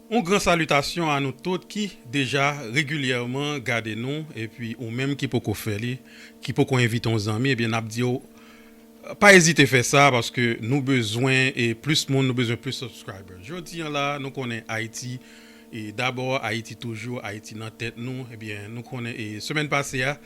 Yon gran salitasyon a nou tout ki deja regilyèman gade nou epi ou menm ki poko fè li ki poko envite yon zanmi ebyen nap diw pa ezite fè sa paske nou bezwen e plis moun nou bezwen plis subscribers jodi an la nou konnen ayiti E dabò Ayiti toujou, Ayiti nan tèt nou, ebyen nou konnen e semèn pase a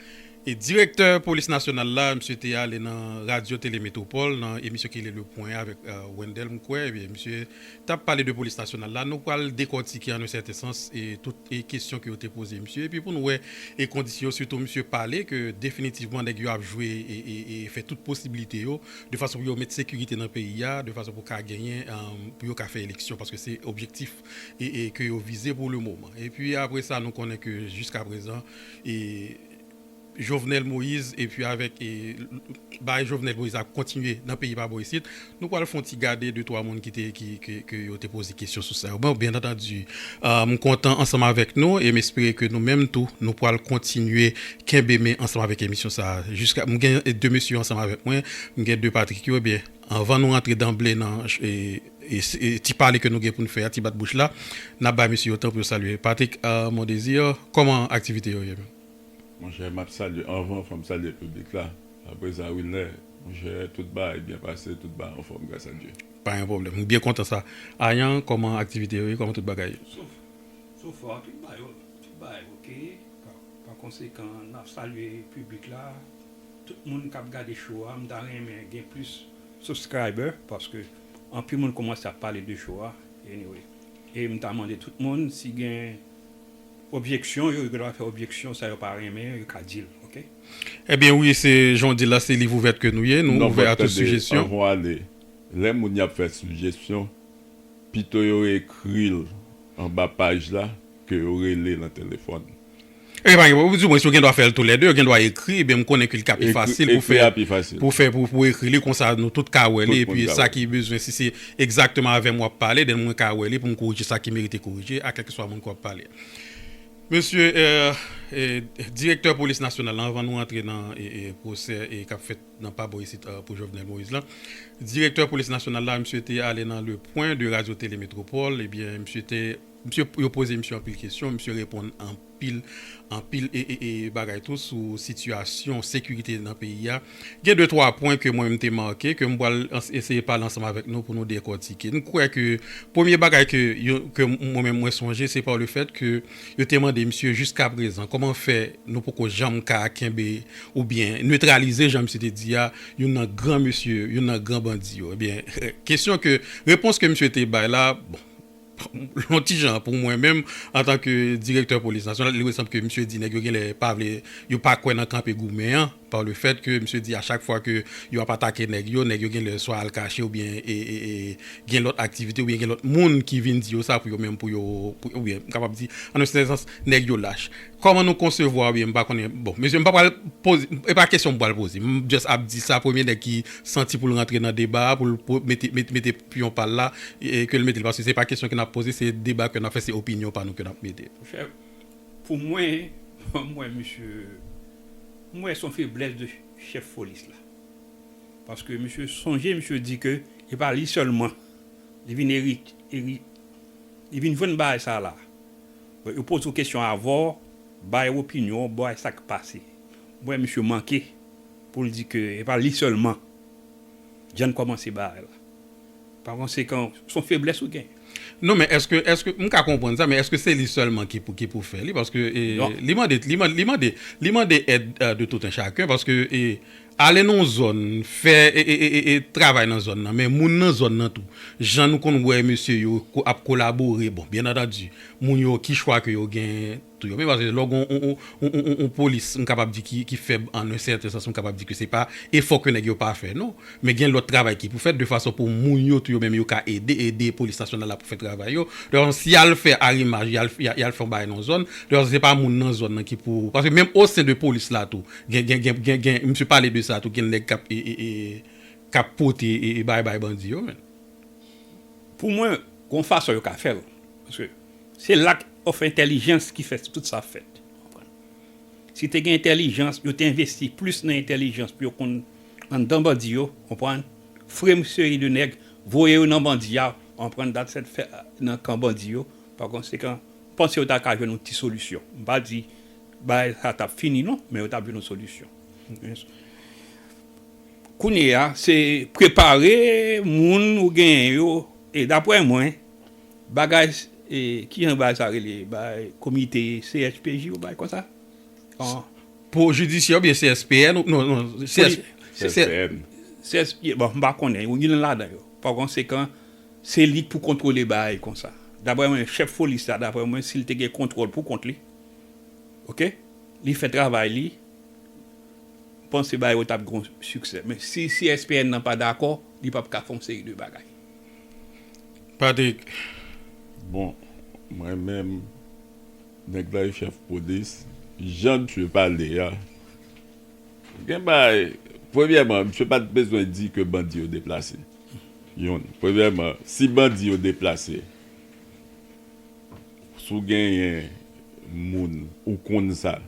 e direktè polis nasyonal la misye te ale nan radyo tele metropole nan emisyon ki rele le pwen avèk Wendel m kwè ebyen misye tap pale de polis nasyonal la nou pral dekòtike an un sèten sans e tout e kesyon ke yo te poze misye epi pou nou wè e kondisyon yo sitou misye pale ke definitivman nèg yo ap jwe e e e fè tout posibilite yo de fason pou yo met sekirite nan peyi a de fason pou ka genyen an pou yo ka fè eleksyon paske se objektif e ke yo vize pou le moman. E pi apre sa nou konnen ke jiska prezan e Jovenel Moïse e pi avèk e bagay Jovenel Moïse la ap kontinye nan peyi pa bò isit. Nou pwal fon ti gade de twa moun ki te ki ke yo te poze kesyon sou sa yo. Bon byen antandi m kontan ansanm avèk nou e m espere ke nou menm tou nou pwal kontinye kenbe men ansanm avèk emisyon sa a jiska m gen de mesye yo ansanm avèk mwen. M gen de Patrick yo e byen anvan nou rantre danble nan e. Se ti pale ke nou gen pou n fè a, ti bat bouch la, n ap bay mesye yo tan pou yo salye. Patrick Mondésir, Kòman aktivite yo ye menm? Monchè, m ap salye anvan, fò m salye piblik la. Apre sa, Wilner, monchè, tout bagay byen pase, tout bagay anfòm, gras a Dye. Pa gen pwoblèm. M byen kontan sa. Ayan, kòman aktivite yo ye, kòman tout bagay ye? Sof, so far, tout bagay yo, tout bagay ok. Pa konsekan, n ap salye piblik la, tout moun k ap gade show a. M ta renmen gen plis subscriber paske. Anpil moun komanse ap pale de show a anyway e m ta mande tout moun si gen objeksyon yo gen dwa fè objeksyon sa yo pa renmen yo ka dil ok. Ebyen wi se jan w di la se liv ouvert ke nou ye nou ouvè a tout sujesyon. Non bon tande anvan ale lè moun yap fè sujesyon pito yo ekri l anba paj la ke yo rele nan telefòn Ebyen pa gen pwoblèm, di mwens yo gen dwa fè l tou lè 2, yo gen dwa ekri, ebyen m konnen ke li ka pi fasil pou fè, pou fè pou pou ekri li konsa nou tout ka wè li epi sa ki bezwen si se egzakteman avè m w ap pale den mwen ka wè li pou m korije sa ki merite korije a kèlkeswa moun ke w ap pale. Mesye Direktè Polis Nasyonal lan anvan nou antre nan pwosè k ap fèt nan pa bò isit pou Jovenel Moïse lan, Direktè Polis Nasyonal la misye te ale nan le pwen de Radio Télé Métropole ebyen misye te Msye yo poze msye anpil kesyon, msye reponn anpil anpil bagay tou sou sitiyasyon sekirite nan peyi a. Gen de twa pwen ke mwen m te make ke m pral eseye pale ansanm avèk nou pou nou dekòtike. M kwè ke premye bagay ke ke mwen menm mwen sonje se pa le fèt ke yo te mande msye jiskaprezan kòman fè nou poko janm ka kenbe oubyen netralize jan msye te di a youn nan gran mesye youn nan gran bandi yo ebyen kesyon ke repons ke msye te bay la bon Yon ti jan pou mwen menm antan ke direktè polis nasyonal li sanble ke misye di nèg yo genlè pa vle yo pa kwè nan kanpe goumen an pa le fèt ke misye di a chak fwa ke yo ap atake nèg yo nèg yo genlè swa al kache oubyen gen lòt aktivite oubyen gen lòt moun ki vin di yo sa pou yo menm pou yo oubyen m kapab di an yon sèten sans nèg yo lach kòman nou konsevwa oubyen m pa konnen bon mesye m pa pral poze e pa kesyon m pral poze m just ap di sa premye nèg ki santi pou l rantre nan deba a pou l mete mete piyon pa l la e ke l mete l paske se pa kesyon ke n ap poze se deba ke n ap fè se opinyon pa nou ke n ap mete. Monchè pou mwen m wè misye m wè son feblès de chèf polis la paske misye sonje misye di ke e pa li sèlman li vin erit eri li vin jwenn bagay sa la donk yo poze w kesyon avan w bay opinyon w bay sa k pase m wè misye manke pou l di ke e pa li sèlman Jan kòmanse bagay la. Pa konsekan, son feblès ou gen. Non men eske, eske, m ka konprann sa men eske se li sèlman ki pou, ki pou fè li paske e, li mande, li mande, li mande, li mande èd de tout un chacun paske e, ale nan yon zòn fè e, e, e, e, travay nan zòn nan men moun nan zòn nan tou jan nou konn wè mesye yo ap kolabore bon byen antandi moun yo ki chwa ke yo gen Tou yo men paske lè w gen yon polis m kapab di ki fèb an un sèten sans m kapab di ke se pa efò ke nèg yo pa fè non men gen lòt travay ki pou fèt de fason pou moun yo tou yo menm yo ka ede ede polis nasyonal la pou fè travay yo de fason si y al fè arimaj y al y al fè yon bagay nan yon zòn de fason se pa moun nan zòn nan ki pou paske menm o sen de polis la tou gen gen gen gen misye pale de sa tou gen nèg k ap e e k ap pote e e bagay bay bandi yo men pou mwen gon fason yo ka fè l paske. Se lack of entèlijans ki fè tout sa fèt. Si te gen entèlijans, yo te envesti plis nan entèlijans pou yo konn anndan bandi yo, konprann, fre m seri de nèg, voye yo nan bandi a, konprann, dat sèt fè nan kan bandi yo, pa konsekan, m panse yo ta ka jwenn yon ti solisyon. M pa di bagay sa tap fini non, men yo tap jwenn yon solisyon. Kounye a, se prepare moun ou genyen yo, e daprè mwen. Bagay ki anba sa rele bay komite CSPJ yo bay konsa? Pou jidisyè oubyen CSPN ou non non CSPN. CSPN bon m pa konnen yo youn ladan yo. Pa konsekan se li k pou kontwole bagay konsa. Daprè mwen chèf polis la daprè mwen si l te gen kontwòl pou kont li ok li fè travay li m panse bagay yo t ap gen yon siksè men si CSPN nan pa dakò li p ap ka fè yon seri de bagay. Patrick bon mwen menm nèg la e chèf polis jan misye pale a gen bagay premyèman misye pat bezwen di ke bandi yo deplase yon premyèman si bandi yo deplase si w genyen moun ou konn sa.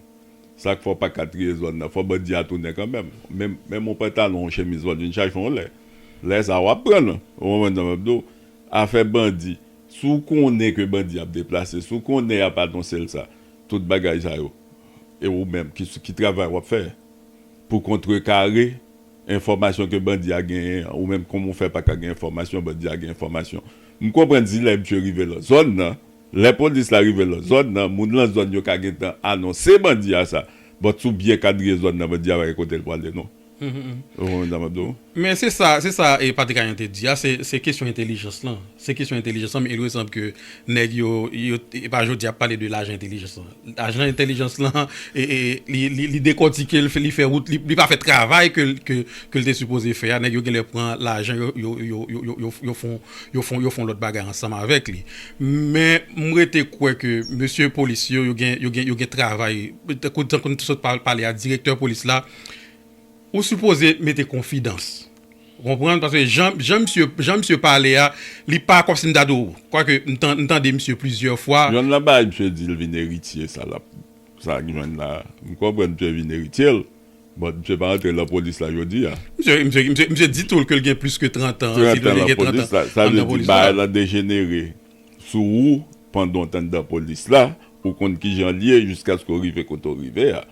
Sak fè w paka triye zòn nan fò bandi a tounen kanmenm menm yon pantalon yon chemiz wap vin chache yon lè lè sa wap pran l ou konprann sa map di w afè bandi si w konnen ke bandi ap deplase si w konnen yap anonse l sa tout bagay sa yo e ou menm ki travay wap fè pou kontre kare enfòmasyon ke bandi a genyen an ou menm kòman w fè paka gen enfòmasyon bandi a gen enfòmasyon m konprann si lè misye rive nan zòn nan. Lè polis la rive lan zòn nan, moun lan zòn yo ka gentan anonse bandi a sa, but si w byen kadriye zòn nan bandi a pa gen kote l pwale non. Ou konprann sa m ap di w? Men se sa, se sa e Patrick Ayan te di a, se, se kesyon entelijans lan, se kesyon entelijans lan men il me semble ke nèg yo, yo, e pa jodi a y ap pale de lajan entelijans lan. Ajan entèlijans lan li dekòtike l li fè wout li pa fè travay ke l te sipoze fè a nèg yo genlè pran lajan yo fon lòt bagay ansanm avèk li men m rete kwè ke mesye polis yo yo gen travay tankou nou te sot pale a direktè polis la ou sipoze mete konfidans. Ou konprann? Paske jan, jan misye, jan misye pale a, li pa kòmsi m ta di w, kwake m tan, m tande misye plizyè fwa. Jhon la bay misye di l vin eritye sa lap, sa ak jhon la. M konprann misye vin eritye l, but misye pa antre lapolis la jodi a. Misye, misye, misye, misye di tou l ke l gen plis ke 30 an, di tou l li gen 30 an Sa vle di bagay la dejenere sou ou pandan w t anndan polis la, ou konn kijan l ye jiskaske w rive kote w rive a.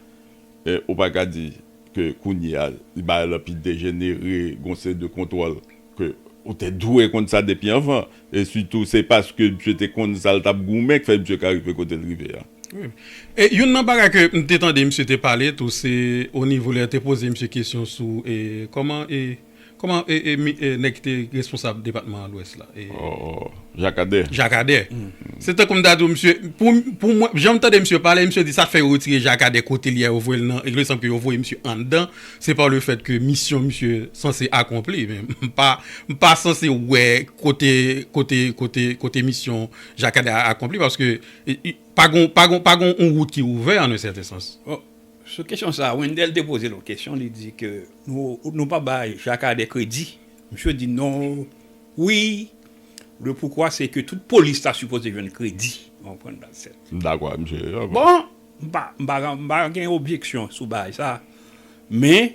Ou pa ka di. ke kounye a li bay la pi dejenere gon seri de kontwòl ke ou te dwe konn sa depi anvan e sitou se paske misye te konn sa l t ap goumen k fè misye ka rive kote l rive a. Wi e youn nan bagay ke m te tande misye te pale tou se o nivo lè yo te poze misye kesyon sou e kòman e. Koman nèg ki te responsab depatman lwès la? Jacques Ader. Jacques Ader. Se tankou m ta di w misye, pou mwen, jan m tande misye pale, misye di sa k fè yo retire Jacques Ader kote li a, yo voye l nan, ilè sanble ke yo voye misye anndan, se pa le fèt ke misyon misye sanse akonpli. Men, m pa, m pa sanse wè kote, kote, kote, kote misyon Jacques Ader akonpli paske pa gon, pa gon, pa gon yon wout ki ouvè an un sèten sans. Sou kesyon sa a, Wendel te poze l yon kesyon, li di ke nou pa bay Jacques Ader kredi. Misye di non, wi, le pourquoi c'est que tout polis ta sipoze jwenn kredi, ou konprann baz sèt. M dakò ak misye. Bon, m pa gen objeksyon sou bagay sa a, men.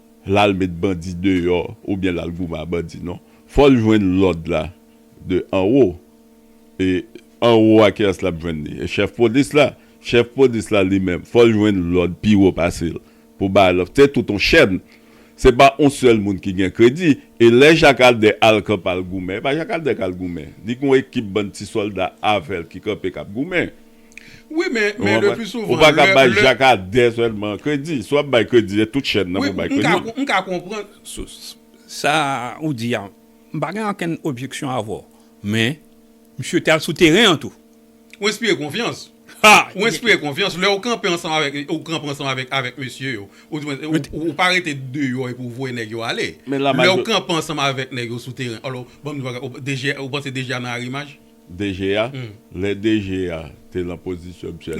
lal met bandi deyò oubyen lal goumen a bandi non fòl jwenn lòd la de anwo e anwo a kiyès lap jwenn li e chèf polis la chèf polis la li menm fòl jwenn lòd pi wo pasel pou bay lòd se tout on chèn se pa on sèl moun ki gen kredi e lè jak aldè al kanpe al goumen e pa jak aldè kal goumen li gon ekip bann ti sòlda avèl ki kanpe kap goumen. Wi men le plus souvent. Ou pa ka bay Jacques Ader selman kredi. Si w ap bay kredi se tout chèn nan pou w bay kredi. Wi m ka konprann. Sa ou di a m pa gen okenn objeksyon avè w. Men misye te al sou teren an tou. Ou enspire konfyans. Ou enspire konfyans lè ou kanpe ansanm avèk li, ou kanpe ansanm avèk mesye yo. Ou pa rete deyò epi ou voye nèg yo ale. Lè ou kanpe ansanm avèk nèg yo sou teren. Alò banm di w bagay ou panse DG a nan arimaj? DG a, lè DG a te lan pozisyon misye a,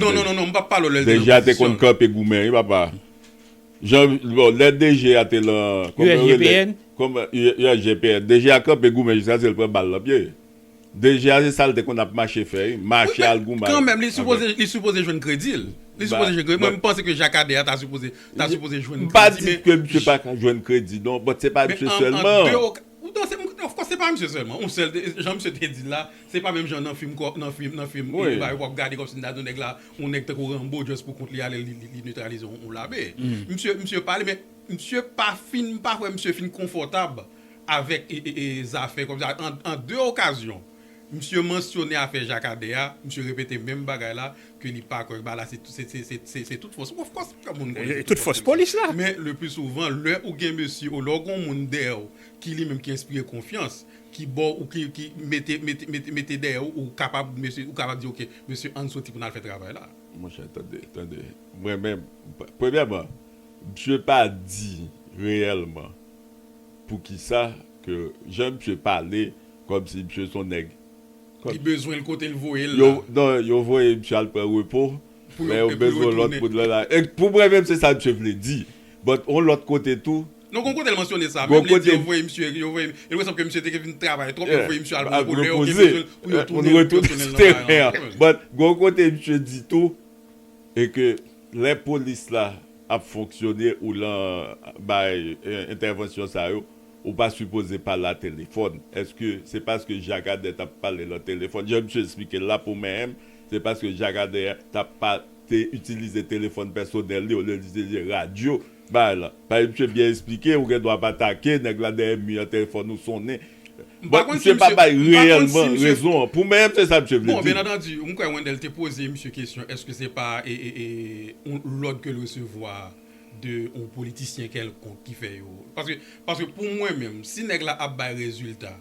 DG a te konn kanpe goumen wi papa. Jan, bon, lè DG a te lan, kòman yo rele, USGPN? USGPN, DG a kanpe goumen jiskaske l pran bal lan pye. DG a se sa l te konn ap mache fè wi, mache al goumen avèk. Wi men, kanmèm li sipoze, li sipoze jwenn kredi l. Li sipoze jwenn kredi l. Mwen m panse ke Jacques Ader ta sipoze, ta sipoze jwenn kredi men. M pa di ke misye pa ka jwenn kredi non, but se pa misye sèlman. Poutan se m of kòs se pa misye sèlman yon sèl jan misye te di l la se pa menm jan nan fim kò nan fim nan fim e bagay wap gade kòmsi m ta di yon nèg la yon nèg tankou Rambo just pou kont li ale li li netralize yon lame misye misye pale men misye pa fin m pa kwè misye fin konfòtab avèk e e zafè kòmsi an an de okazyon. Misye mansyone afè Jacques Ader a, misye repete menm bagay la ke li pa kwè ba la se se tout fòs of course tout moun konnen se tout fòs polis la men le plus souvent lè ou gen mesye ou lè ou gon moun dèyè ou ki li menm ki enspire konfyans ki ba w ou ki ki mete mete mete dèyè ou ou kapab mesye ou kapab di ok mesye ann soti pou n al fè travay la. Monchè tande tande mwen menm premyèman misye pa di reyèlman poukisa ke jan misye pale Kòmsi misye son nèg. Li bezwenl kotel voyel la. Non yo voye misye al pran repo lè yo bezwen lòt moun lan la pou mwen menm se sa misye vle di but on lòt kote tou. Non gon kotel mansyone sa menm li di yo voye misye yo voye misye elwe sanm ke misye te vin travay twòp yo voye misye al repo lè yo gen bezwenl pou yo tounen yo tounen nan kay la but gon kote misye di tou e ke lè polis la ap fonksyone ou lan bay entèvansyon sa yo. Ou pa sipoze pale a telefòn. Eske se paske Jakadè tap pale lan telefòn? Jan misye esplike la pou mèm, se paske Jakadè tap pa te itilize telefòn pèsonèl li olye li itilize radyo bay lan. Pale misye byen esplike, ou gen dwa pa take, nèg la dèyè mi an telefòn ou sonnen. Bon, misye pa bay reyèlman rezon an. Pou mèm se sa misye vle di. Bon, byen antandi, m kwè Wendel te poze misye kesyon eske se pa yon lòd ke l resevwa. de yon politisyen kèlkonk ki fè yo paske paske pou mwen menm si nèg la ap bay rezilta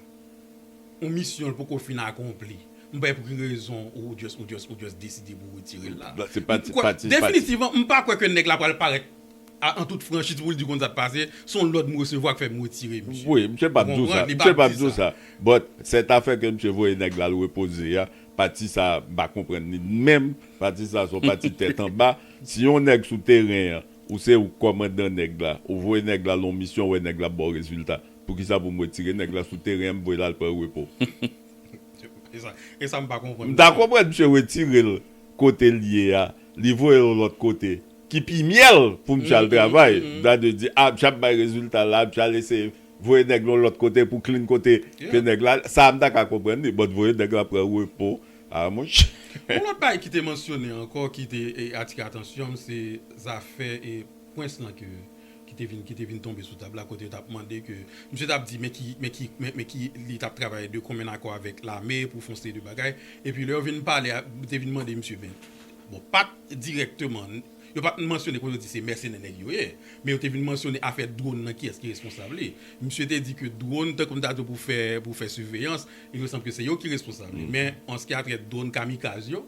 yon misyon l poko fin akonpli m pa wè pou ki rezon ou just ou just ou just deside pou retire l la Se pa ti pati definitivman m pa kwè ke nèg la pral parèt a an tout franchiz pou l di konn sa k pase se yon lòd m resevwa k fè m retire misye Wi misye pap di w sa misye pap di w sa but sètafè ke misye voye nèg la al repoze a pati sa m pa konprann li menm pati sa se yon pati tèt anba Si yon nèg sou teren an, ou se ou kòmandan nèg la, ou voye nèg la lon misyon wè nèg la baw rezilta, poukisa pou m retire nèg la sou teren an m voye l al pran repo? Esa m pa konprann nan. M ta konprann misye retire l kote l ye a, li voye l yon lòt kote ki pi myèl pou misye al travay. M ta dwe di, a misye ap bay rezilta la, misye al eseye voye nèg l yon lòt kote pou klin kote ke nèg la, sa a m ta ka konprann li, but voye nèg la pran repo. Ah monchè. Yon lòt bagay ki te mansyone ankò ki te atire atansyon m se zafè Prince lan ke ki te vin ki te vin tonbe sou tab la kote yo tap mande ke misye tap di men ki men ki men ki li tap travay de konmenn akò avèk lame pou fon seri de bagay epi lè yo vin pale a yo te vin mande misye men bon pat dirèkteman yo pat mansyone pou yo di se mèsenè nèg yo ye men yo te vin mansyone afè drone nan kiyès ki responsab li misye te di ke drone tankou m ta di w pou fè pou fè siveyans Il me semble ke se yo ki responsab li. Men an se ki a trè dwòn kamikaz yo,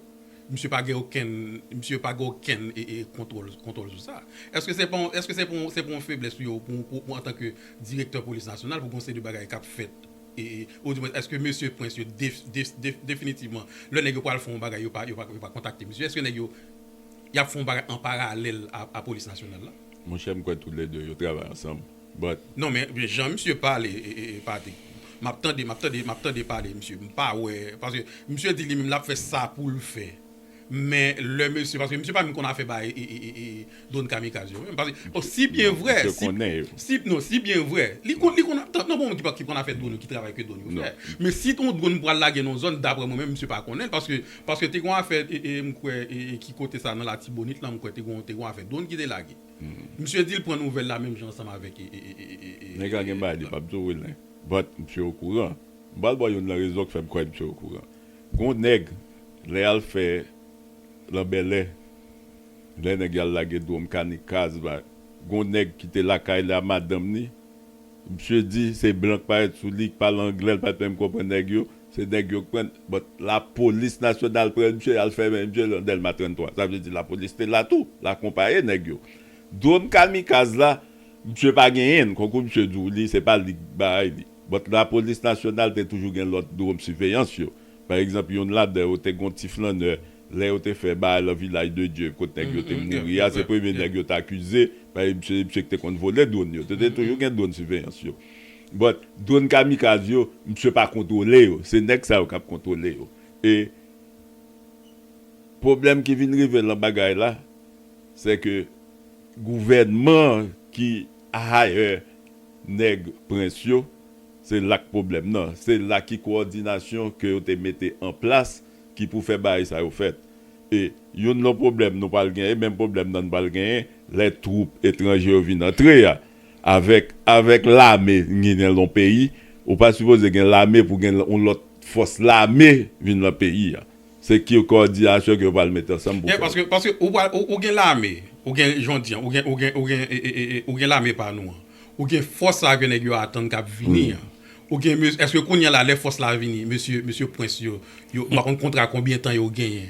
misye pa gen okenn, misye pa gen okenn kontwòl, kontwòl sou sa. Eske se pa yon, eske se pa yon, se pa yon feblès pou yo, pou antan ke direktè polis nasyonal pou gen yon seri de bagay kap fèt e, ou di mwen eske mesye prens yo def, def, def, definitivman lè nèg yo pwal fè yon bagay yo pa, yo pa, yo pa kontakte misye? Eske nèg yo yap fè yon bagay an paralèl a polis nasyonal la? Monchè m kwè tou lè 2 yo travay ansanm. But. Non men jan misye pale pati map tande map tande map tande pale misye mpa wè paske misye di li menm lap fè sa poul fè men lè mesye paske misye pa menm konn afè bay drone kamikaz yo menm paske bon si byen vrè si non si byen vrè li konn li konn tank nan bon ki konn afè drone yo ki travay ke drone yo fè men si ton drone pral lage nan zòn daprè mwen menm misye pa konnenl paske paske te gon afè mkwè ki kote sa nan latibonit lan mkwè te gon te gon afè drone ki te lage. Misye dil pran nouvel la menm jan ansanm avek e. Nèg la gen bagay li pap di w nen but misye okouran. M pral ba w youn nan rezon k fè m kwè misye okouran. Gon nèg lè yal fè lan bèlè lè nèg yal lage dwom kani kaz ba gon nèg ki te lakay li a madanm li misye di se blan k parèt sou li k pale anglè l pat menm konprann nèg yo. Se nèg yo k pran but la police nationale pran misye yal fèmen misye nan delma 33 sa vle di la police te la tou la konpaye nèg yo drone kamikaz la misye pa genyenn konkou misye di w li se pa li k bay li but la police nationale te toujou gen lòt drone siveyans yo pa egzanp youn ladan yo te gon ti flannè lè yo te fè baay lan vilaj de Dye kot nèg yo te mouri a se premye nèg yo t akize paske misye se misye k te konn vole drone yo te te toujou gen drone siveyans yo. But drone kamikaz yo misye pa kontrole yo se nèg sa yo kap kontrole yo e pwoblèm ki vin rive lan bagay la se ke gouvènman an ki hire nèg prens yo se la k pwoblèm nan se la ki kowòdinasyon ke yo te mete an plas ki pou fè bagay sa yo fèt e youn lan pwoblèm nou pral gen e menm pwoblèm nan nou pral genyen lè twoup etranje yo vin antre a Avèk avèk lame gin nan yon peyi ou pa sipoze gen lame pou gen yon lòt fòs lame vin nan peyi a se ki kòdiyasyon ke yo pral mete ansanm pou fè sa. Paske ou pral ou gen lame ou gen jan w di an ou gen ou gen ou gen ou gen lame pa nou an ou gen fòs la ke nèg yo atann kap vini an ou gen mes èske kounya la lè fòs la vini mesye mesye pwens yo yo m pa konn kontra konbyen tan yo genyen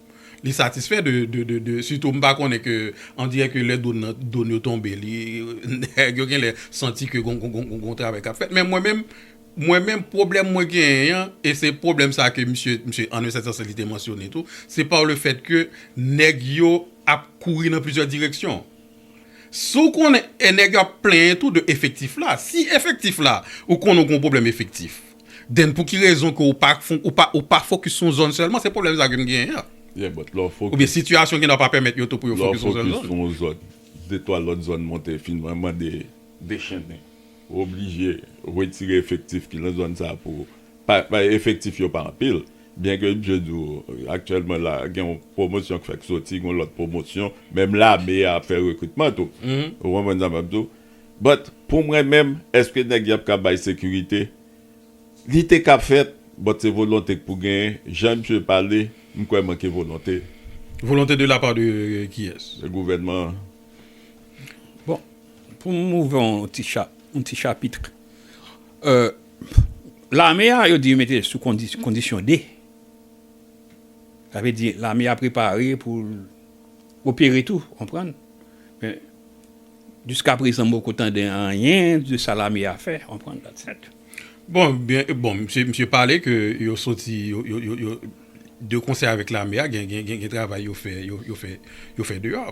Li satisfè de sitou m pa konnen ke on dirè ke lè done yo tonbe li nèg yo genlè santi ke gon travay kap fèt men mwen menm mwen menm pwoblèm mwen genyen an e se pwoblèm sa ke misye an un sèten sans li te mansyone tou se pa le fèt ke nèg yo ap kouri nan plizyè direksyon si w konnen e nèg yo ap plenyen tou de efektif la si efektif la ou konnen gon pwoblèm efektif. Then pouki rezon ke ou pa ou pa ou pa focus sou yon zòn sèlman se pwoblèm sa ke m genyen an. Yeah but lè w focus. Oubyen sitiyasyon gen nan pa pèmèt yo tou pou yo focus sou yon sèl zòn. Lè w focus sou yon zòn, de twa lòt zòn monte fin mwen mande dechennen. Ou oblije retire efektif ki nan zòn sa a pou pa pa efektif yo pa anpil byen ke msye di w aktyèlman la gen yon pwomosyon k fèk soti gen yon lòt pwomosyon menm lame a ap fè rekritman tou ou konprann sa m ap di w But pou mwen menm eske nèg yap ka bay sekirite Li te ka fèt but se volonte k pou genyen jan misye pale m kwè manke volonte. Volonte de la part de kiyès? De gouvènman an. Bon pou m ouvè yon ti chap yon ti chapitr lame a yo di yo mete sou kondisyon de sa vle di lame a prepare pou l. opere tou ou konprann men jiska prezan m poko tande anyen de sa lame a fè ou konprann that's it. Bon byen bon misye pale ke yo soti yo de konsè avèk lame a gen gen gen travay yo fè yo fè yo fè deyò.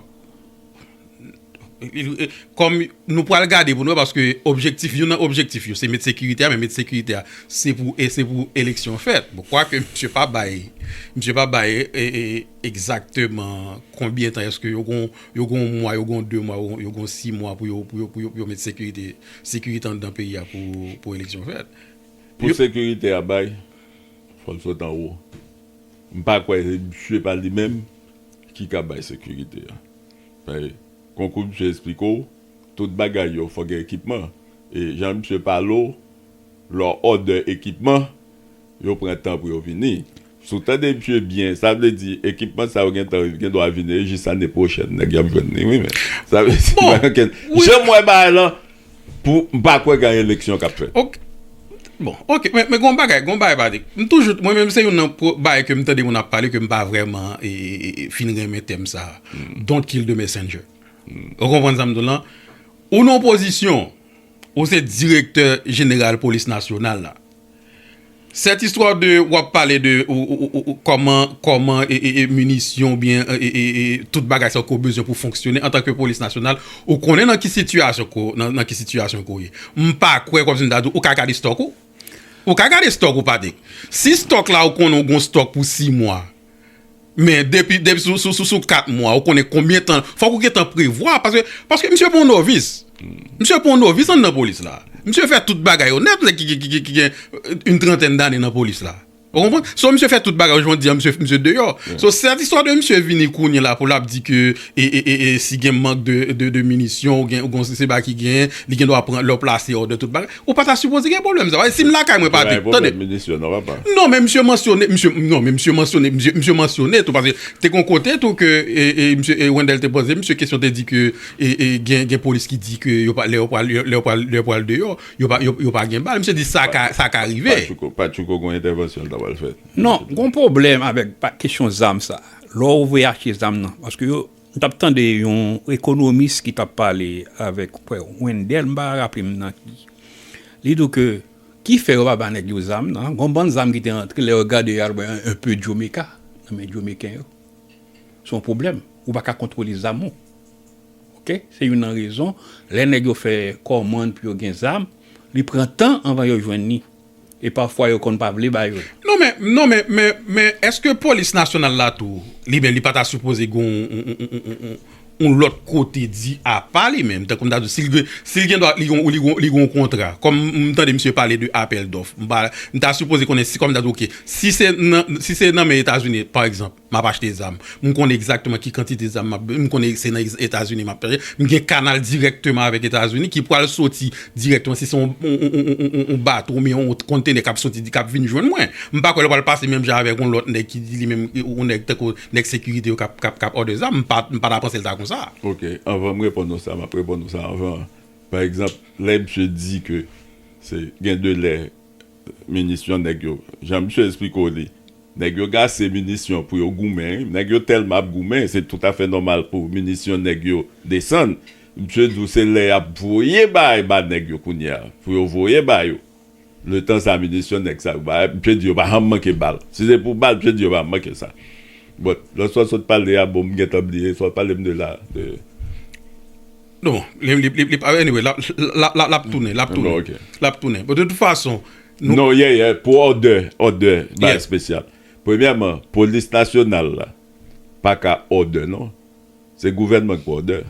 Kòm nou pral gade pou nou wè paske objektif youn nan objektif yo se met sekirite a men met sekirite a se pou e se pou eleksyon fèt bon kwak misye pa bay misye pa bay e egzakteman konbyen tan eske yo gon yo gon mwa yo gon de mwa yo gon si mwa pou yo pou yo pou yo met sekirite sekirite anndan peyi a pou pou eleksyon fèt. Pou sekirite a bay fò l sot anwo m pa kwè se misye pa li menm ki ka bay sekirite a. Hey konkou misye esplike w tout bagay yo fò gen ekipman e jan misye pale w lò òdè ekipman yo pran tan pou yo vini si w tande misye byen sa vle di ekipman sa yo gentan yo gen dwa vini e jis ane pwochèn nèg y ap jwenn li wi men sa vle di pa gen ken jan m wè bagay lan Pou m pa kwè gen eleksyon k ap fèt. Ok. Bon. Ok. Men gen yon bagay. Gen yon bagay Patrick. M toujou, mwen menm se youn nan bagay ke m tande moun ap pale ke m pa vrèman fin renmen tèm sa a. Don't kill the messenger. Ou konprann sa m di w lan? Ou nan opozisyon, ou se direktè jeneral polis nasyonal la. Cette histoire de wap pale de koman koman munisyon oubyen tout bagay sa ou ke ou bezwen pou fonksyone antan ke polis nasyonal ou konnen nan ki sitiyasyon ke nan ki sitiyasyon ke ou ye m pa kwè kòmsi m ta di ou ka gade stock ou ou ka gade stock ou Patrick si stock la ou konnen ou gon stock pou 6 mwa. Men depi sou 4 mwa ou konnen konbyen tan, fòk ou gentan prevwa paske, paske misye pa yon novis. Misye pa yon novis anndan polis la. Misye fè tout bagay yo nèt lè ki gen yn trantèn dane nan polis la. Ou konprann? So misye fè tout bagay yo, jodi an misye deyò. So sèt istwa de misye vini kounye la pou lap di ke e si gen mank de minisyon ou gen, ou gen yon seba ki gen, li gendwa pran lè ou plase òdè tout bagay. Ou pa ta sipoze gen pwoblèm sa. Si m lakay mwen pa di. Tande. Non men misye mansyone. Non men misye mansyone. Misye mansyone tou. Paske te kon kote tou ke Wendel te poze misye kesyon te di ke gen polis ki di ke lè yo pral deyò yo pa gen bal. Misye di sa ka rive. Pa tchouko gon entèvansyon l ta pral fè. Non. Gon pwoblèm avèk kesyon zam sa. Lè ou vle achte zam nan. Paske yo. M tap tande yon ekonomis ki tap pale avek Wendel m pa raple m nan ki li di w ke ki fè yo pa ba nèg yo zam nan gon bann zam ki te antre lè yo gade yo al wè un peu Jomeka nan men Jomeken yo se yon pwoblèm ou pa ka kontwole zam ou ok se youn nan rezon lè nèg yo fè kòmand pou yo gen zam li pran tan anvan yo jwenn li. E pafwa yo konn pa vle ba yo l. Non men, non men, men, men eske polis nasyonal la tou li menm li pa ta sipoze gen yon lòt kote di apa li menm tankou m ta di w si l gen, si l gen dwa li gen yon, li gen yon, li gen yon kontra kòm m tande misye pale de apèl dòf m pa, m ta sipoze konnen si kòm m ta di w ok si se nan, si se nan men Etazini pa egzanp. M ap achte zam. M konnen egzakteman ki kantite zam m ap bezwen. M konnen se nan Etazini m ap tache. M gen kanal dirèkteman avèk Etazini ki pral soti dirèkteman si se yon bato oubyen yon kontenè k ap soti di k ap vin jwenn mwen. M pa kwè l pral pase menm jan avèk yon lòt nèg ki di li menm yon nèg tankou nèg sekirite yo k ap òdè zam. M pa ta panse l ta kon sa. Ok, anvan m reponn ou sa, m ap reponn ou sa anvan an. Pa egzanp, lè misye di ke se gen de lè. Minisyon nèg yo jan misye esplike w li nèg yo gase minisyon pou yo goumen wi nèg yo tèlman ap goumen se tout afè nòmal pou minisyon nèg yo desann misye di w se lè yap voye bay ba nèg yo kounye a pou yo voye ba yo letan sa minisyon nèg sa yo ba misye di yo pa janm manke bal si se pou bal misye di yo pa janm manke sa bon lòt sa w sot pale a bon m gentan bliye sa w pale m de la de. Non, li pa anyway, lap tounen, lap tounen. Ok. Lap tounen. Bon, de tout fason, nou- Non, ye, ye, pou òdè, òdè, bagay Yes. spesyal. Premyèman, polis nasyonal la pa ka òdè non. Se gouvènman ki pou òdè.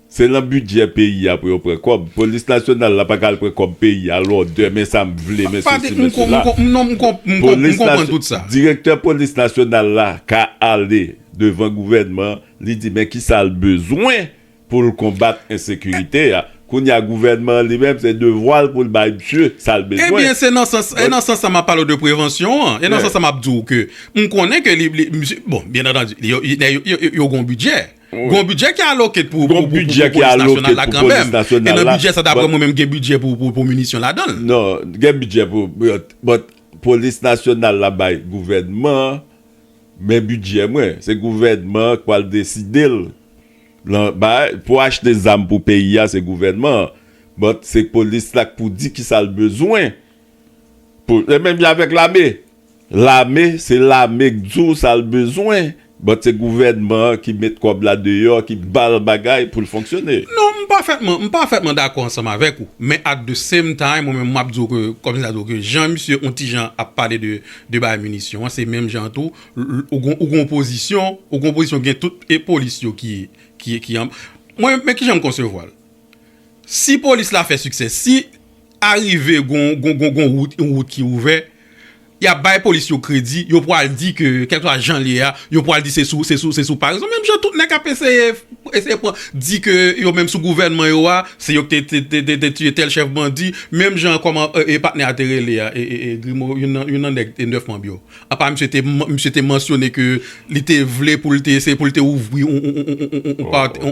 Se lan bidjè peyi a pou yo pran kòb. Polis nasyonal la pa ka al pran kòb peyi a, al òdè, men sa m vle, men Pa sesi, de, men m kon- m sela. kon- m non, m kon- m kon- m Polis konprann nas- tout sa. Direktè polis nasyonal la ka ale devan gouvènman Li di men kisa l bezwen pou l konbat ensekirite a. Kounye a gouvènman an li menm se devwa l pou l bay misye sa l bezwen. Ebyen se nan sans e nan sans sa m ap pale w de prevansyon an. E nan sans sa m ap di w ke m konnen ke li misye bon byen antandi yo nèg yo yo yo gen yon bidjè. Gen yon bidjè ki aloke pou pou pou polis nasyonal la kanmenm. E nan bidjè sa dapre mwen menm gen bidjè pou pou pou minisyon ladan l. Non gen bidjè pou but polis nasyonal la bay gouvènman an. Men bidjè mwen, se gouvènman an k pral deside l lan bay pou achte zam pou peyi a se gouvènman an but se polis la k pou di kisa l bezwen pou se menm jan avèk lame lame se lame k di w sa l bezwen but se gouvènman an ki met kòb la deyò ki ba l bagay pou l fonksyone. Non m pafètman m pafètman dakò ansanm avèk ou men at the same time mwen menm m ap di w ke kòm si ta di w ke jan misye on ti jan ap pale de 2 bay minisyon an se menm jan tou ou gon ou gon pozisyon ou gon pozisyon ki gen tout e polis yo ki ki ki an mwen men kijan m konsevwa l si polis la fè siksè si arive gon gon gon gon wout yon wout ki ouvè y ap bay polis yo kredi yo pwal di ke kèlkeswa jan l ye a yo pwal di se sou se sou se sou parèzon menm jan tout nèg k ap eseye eseye pran di ke yo menm sou gouvènman yo a. Se yo k te tiye tèl chèf bandi, menm jan kòman patnè a te rele a, Grimo, youn nan nèg 9 manb yo. Apa misye te mansyone ke li te vle pou l te eseye pou l te ouvri yon partè.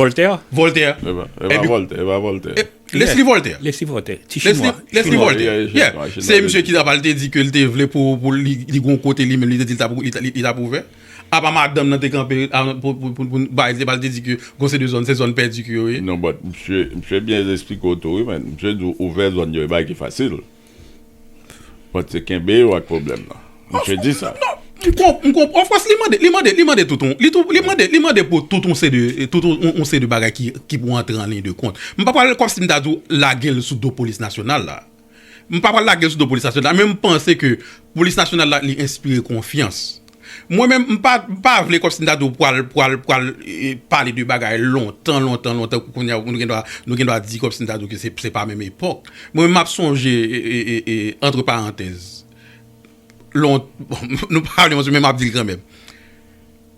Vòltè? Vòltè. E pa Vòltè, e pa Vòltè. Lesli Vòltè. Lesli Vòltè. Ti chinwa. Lesli Vòltè. Yeah. Se misye ki apa li te di ke li te vle pou li gen yon kote li menm li te di li t ap ouvè. Apa madanm nan te kanpe poun bay zye pal te di ke gon se de zòn se zòn pèdi ke yo ye. Non but msye msye byen esplike w tou wi man msye di w ouvè zòn yo e bagay ki fasil but se kenbe yo ak pwoblèm nan msye di sa. M konprann of course li mande li mande li mande tout on li tou li mande li mande pou tout on se de tout on se de bagay ki ki pou antre an liy de kont m pa pral komsi m ta di w lage l sou do polis nasyonal la. M pa pral lage l sou do polis nasyonal la men m panse ke polis nasyonal la li enspire konfyans. Mwen menm m pa m pa vle kòmsi m ta di w pral pral pral pale de bagay lontan lontan lontan kou kounye a nou gen dwa nou gen dwa di kòmsi m ta di w ke se se pa menm epòk. Mwen menm m ap sonje e antre parantèz lon nou pa vle mansyone men m ap di l kanmenm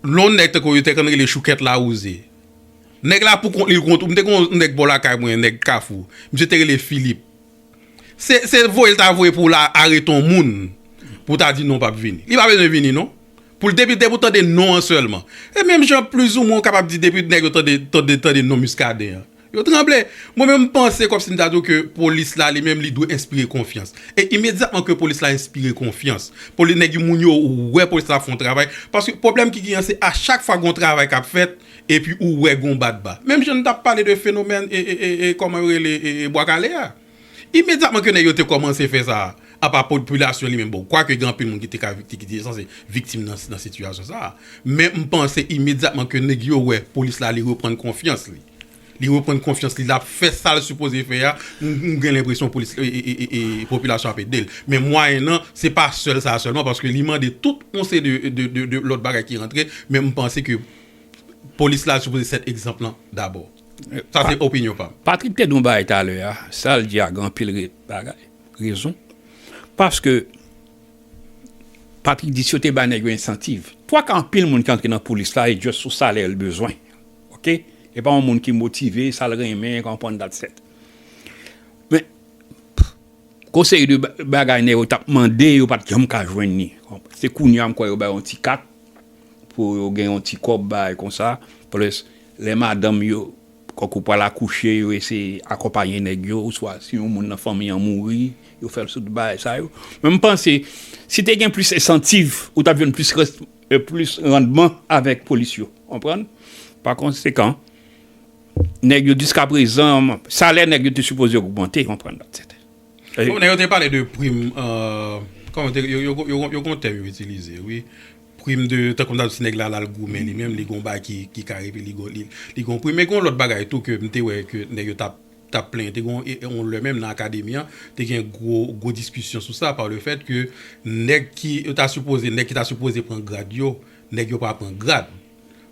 lon nèg tankou yo te konn rele choukèt lawouze nèg la pou kont li l konn tou m te gen yon nèg bò lakay mwen nèg kafou misye te rele Filip Se voye l ta voye pou l arete yon moun pou ta di non pap vini. Li pa bezwen vini non. Pou l depi depi w tande non an sèlman. E menm jan plizoumwen w kapab di depi nèg yo tande tande tande non Muscadin an. Yo tranble. Mwen menm m panse kòmsi m ta di w ke polis la li menm li dwe enspire konfyans. E imedyatman ke polis la enspire konfyans. Poli nèg yo moun yo wè polis la ap fè yon travay. Paske pwoblèm ki genyen se a chak fwa gen yon travay k ap fèt. Epi ou wè gon badba. Menm jan n t ap pale de fenomèn kòman yo rele Bwa Kale a. Imedyatman ke nèg yo te kòmanse fè sa, apa popilasyon li menm bon, kwake gen anpil moun ki te ka ki te sanse viktim nan sitiyasyon sa a. Men m panse imedyatman ke nèg yo wè polis la li reprann konfyans li. Li reprann konfyans li lap fè sal sipoze fè a m gen lenpresyon polis e popilasyon ap edel men mwayen nan se pa sèl sa sèlman paske li mande tout yon seri de lòt bagay ki rantre men m panse ke polis la sipoze sèt egzanp lan dabò sa se opinyon pam. Patrick te di yon bagay talè a sal di a gen anpil bagay rezon paske Patrick di si yo te bay nèg yo ensantiv 3 ka anpil moun ki antre nan polis la e just sou salè l bezwen. Ok epa yon moun ki motive sal renmen konprann dat set men gon seri de bagay nèg yo tap mande yo pat janm ka jwenn li se kounya m kwè yo bay yon ti kat pou yo gen yon ti kòb bay konsa plis lè madanm yo kòk ou pral akouche yo eseye akonpaye nèg yo oswa si yon moun nan fanmi an mouri yo fèl sou tout bagay sa yo men m panse si te gen plis ensantiv ou tap jwenn plis. e plis randman avèk polis yo konprann pa konsekan nèg yo jiskaprezan salè nèg yo te sipoze ogmante konprann dat sèten. Bon nèg yo te pale de prim kòman te yo yo gon tèm yo itilize wi prim de tankou mtap di si nèg la lal goumen li menm li gon bagay ki kare epi li gon prim men gon lòt bagay tou ke mte wè ke nèg yo tap t ap plenyen. Te gen yon lè menm nan akademi an, te gen gwo diskisyon sou sa, pa le fèt ke nèg ki ta sipoze, nèg ki ta sipoze pran grad yo, nèg yo pa pran grad.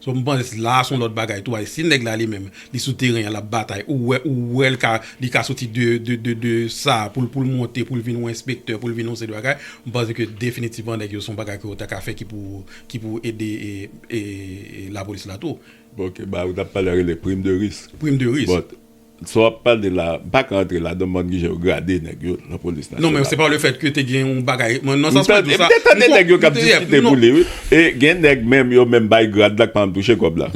So m panse se la a se yon lòt bagay tou, paske si nèg la li menm li sou teren an l ap batay, ou wè, ou wè l ka, li ka soti de, de, de, de sa a pou l, pou l monte, pou l vin yon enspektè, pou l vin yon seri de bagay, m panse ke definitivman nèg yo se yon bagay ke yo ta ka fè ki pou, ki pou ede lapolis la tou. Bon ke ba ou tap pale a rele prim de risk. Prim de risk. Bon sa wap pale la m paka antre la dan bann ki jan yo grade nèg yo nan polis nasyonal. Non men se pa le fèt ke te gen yon bagay nan sans mwen di w sa. M te tande nèg yo kap diskite pou li wi. E gen nèg menm yo menm bay grad la ki pa janm touche kòb la.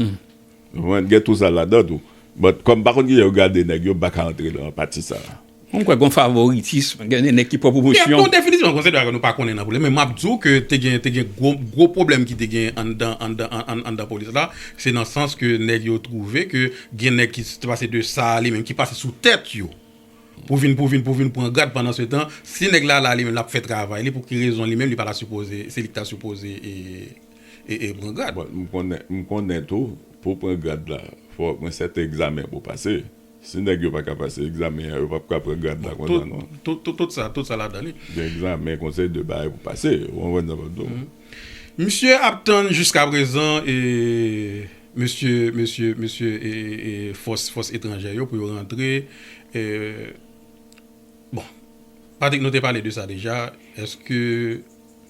Ou konprann gen tou sa ladan tou. Bon kòm m pa konn ki jan yo grade nèg yo m paka antre nan pati sa. Mwen m kwè gon favoritism, gen de nèg ki pran pwomosyon. Bon definisyon an konsidere nou pa konnen nan polis men map di w ke te gen te gen gwo gwo pwoblèm ki te gen anndan anndan anndan polis la se nan sans ke nèg yo twouve ke gen nèg ki te pase de sa li menm ki pase sou tèt yo pou vin pou vin pou vin pran grad pandan se tan si nèg la la li menm lap fè travay li pou ki rezon li menm li pa ta sipoze se li ki ta sipoze e e e pran grad. Bon m konnen m konnen tou pou w pran grad la fò gen sèten egzamen pou w pase. Si nèg yo paka pase egzamen an yo pap ka pran grad la konsa non. Tout sa tout sa ladan li. Gen egzamen konsèy de bagay pou pase ou konprann sa map diw. Misye ap tann jiska prezan e mesye mesye mesye e e fòs fòs etranjè yo pou yo rantre e bon Patrick nou te pale de sa deja eske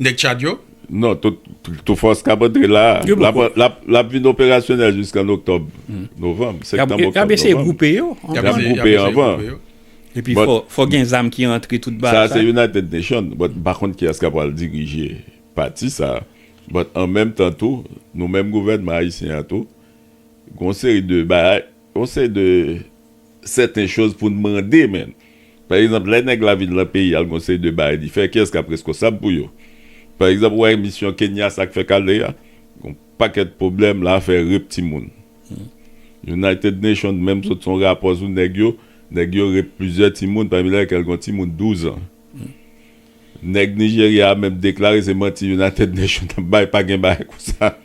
Nèg Tchad yo? Non, tout fòs k ap antre la a, l ap vin operasyonèl jiska an oktòb, novanm, septanm, oktòb, novanm. Y ap eseye gwoupe yo anvan. Y ap eseye gwoupe yo anvan. Epi fò gen zam ki antre tout ba sa. Sa se United Nation, but m pa konn kiyès k ap pral dirije pati sa a. But an menm tan tou, nou menm gouvènman ayisyen an tou, gon seri de bagay. Yon seri de sèten choz pou n mande menn. Pa egzanp, lè nèg la vin lan peyi al gon seri de bagay li fè, kiyès k ap reskonsab pou yo? Pa egzanp, ou wè emisyon Kenya sa k fèk ale a? Gon pakèt pwoblèm la, afè rep timoun. United Nations menm sot son rapò sou nèg yo, nèg yo rep plizyè timoun pami lèkèl gon timoun 12 an. Nèg Nijerya a menm deklare se manti United Nations ap bay, pa gen bagay konsa.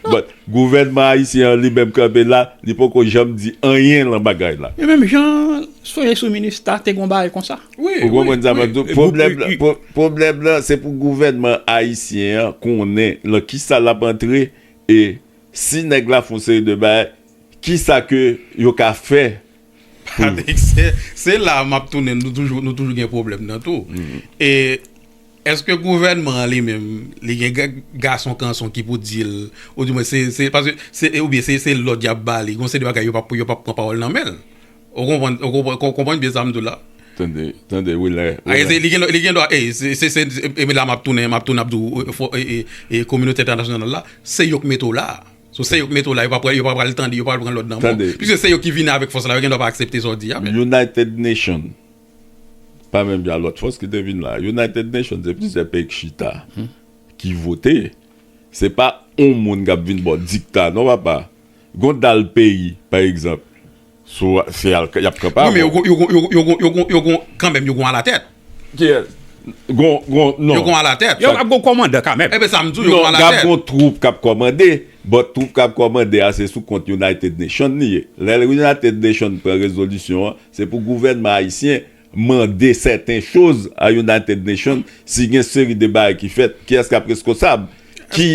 But gouvènman ayisyen an li menm kanpe la, li poko janm di anyen lan bagay la. E menm jan sonje sou minista te gon bagay konsa. Ou konprann sa map di w? Pwoblèm lan, pwoblèm lan se pou gouvènman ayisyen an konnen lan kisa lap antre e si nèg la fon seri de bagay kisa ke yo ka fè Se la map tounen nou toujou nou toujou gen problem nan tou e eske gouvenman an li menm li gen gason kanson ki pou dil ou di mwen se se paske se e ou byen se se lòd yap ba li gon se de bagay yo pap pou yo pap pran pawòl nan menl ou konprann ou konprann ou konprann byen sam di w la tande tande wi lè wi lè li gen li gen dwa e se se se e la map tounen map tounen ap di w fò e e e kominotè entènasyonal la se yo k mete w la. So se yo ki mete w la, yo pa pral yo pa pral tande, yo pa pral pran lòd nan men w. Tande. Piske se yo ki vini avèk fòs la, yo gen dwa pa aksepte sa w di a men. United Nation pa menm jan lòt fòs ki te vin la. United Nation se plizyè peyi ki chita, ki vote. Se pa yon moun k ap vin ba w dikta non papa. Gon dal peyi pa egzanp. So se al y ap kanpe avè w. Wi men yo gon kanmenm yo gon alatèt. Kiyès? Gon gon non. Yo gon alatèt. Yo ap gon kòmandan kanmenm. Enben sa m di w yo gon alatèt. Non gap gon twoup k ap kòmande but twoup k ap kòmande a se sou kont United Nation li ye. Lè United Nation pran rezolisyon an se pou gouvènman ayisyen mande sèten choz a United Nation si gen seri de bagay ki fèt kiyès kap reskosab ki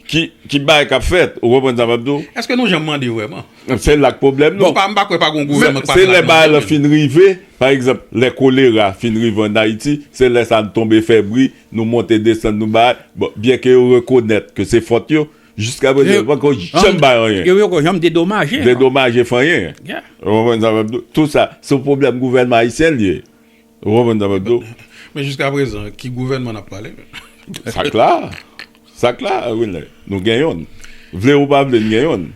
ki bagay kap fèt ou konprann sa map di w. Eske nou janm mande vrèman? Se la k pwoblèm lan. Bon m pa kwè pa gon gouvènman k pa fèt ak mande menm. Se lè bagay lan fin rive pa egzanp lè kolera fin rive an Ayiti se lè sa n tonbe fè bri nou monte desann nou bagay bon byenke yo rekonèt ke se fòt yo Jiska prezan, yo poko janm bay anyen. Yo poko janm dedomaje. Dedomaje fanyen. Ou konprann sa map di w? Tout sa, se yon pwoblèm gouvènman ayisyen li ye. Ou konprann sa map di w? Men jiska prezan, ki gouvènman nap pale menm? Sa kla. Sa kla, Wilner. Nou gen yonn. Vle ou pa vle, nou gen yonn.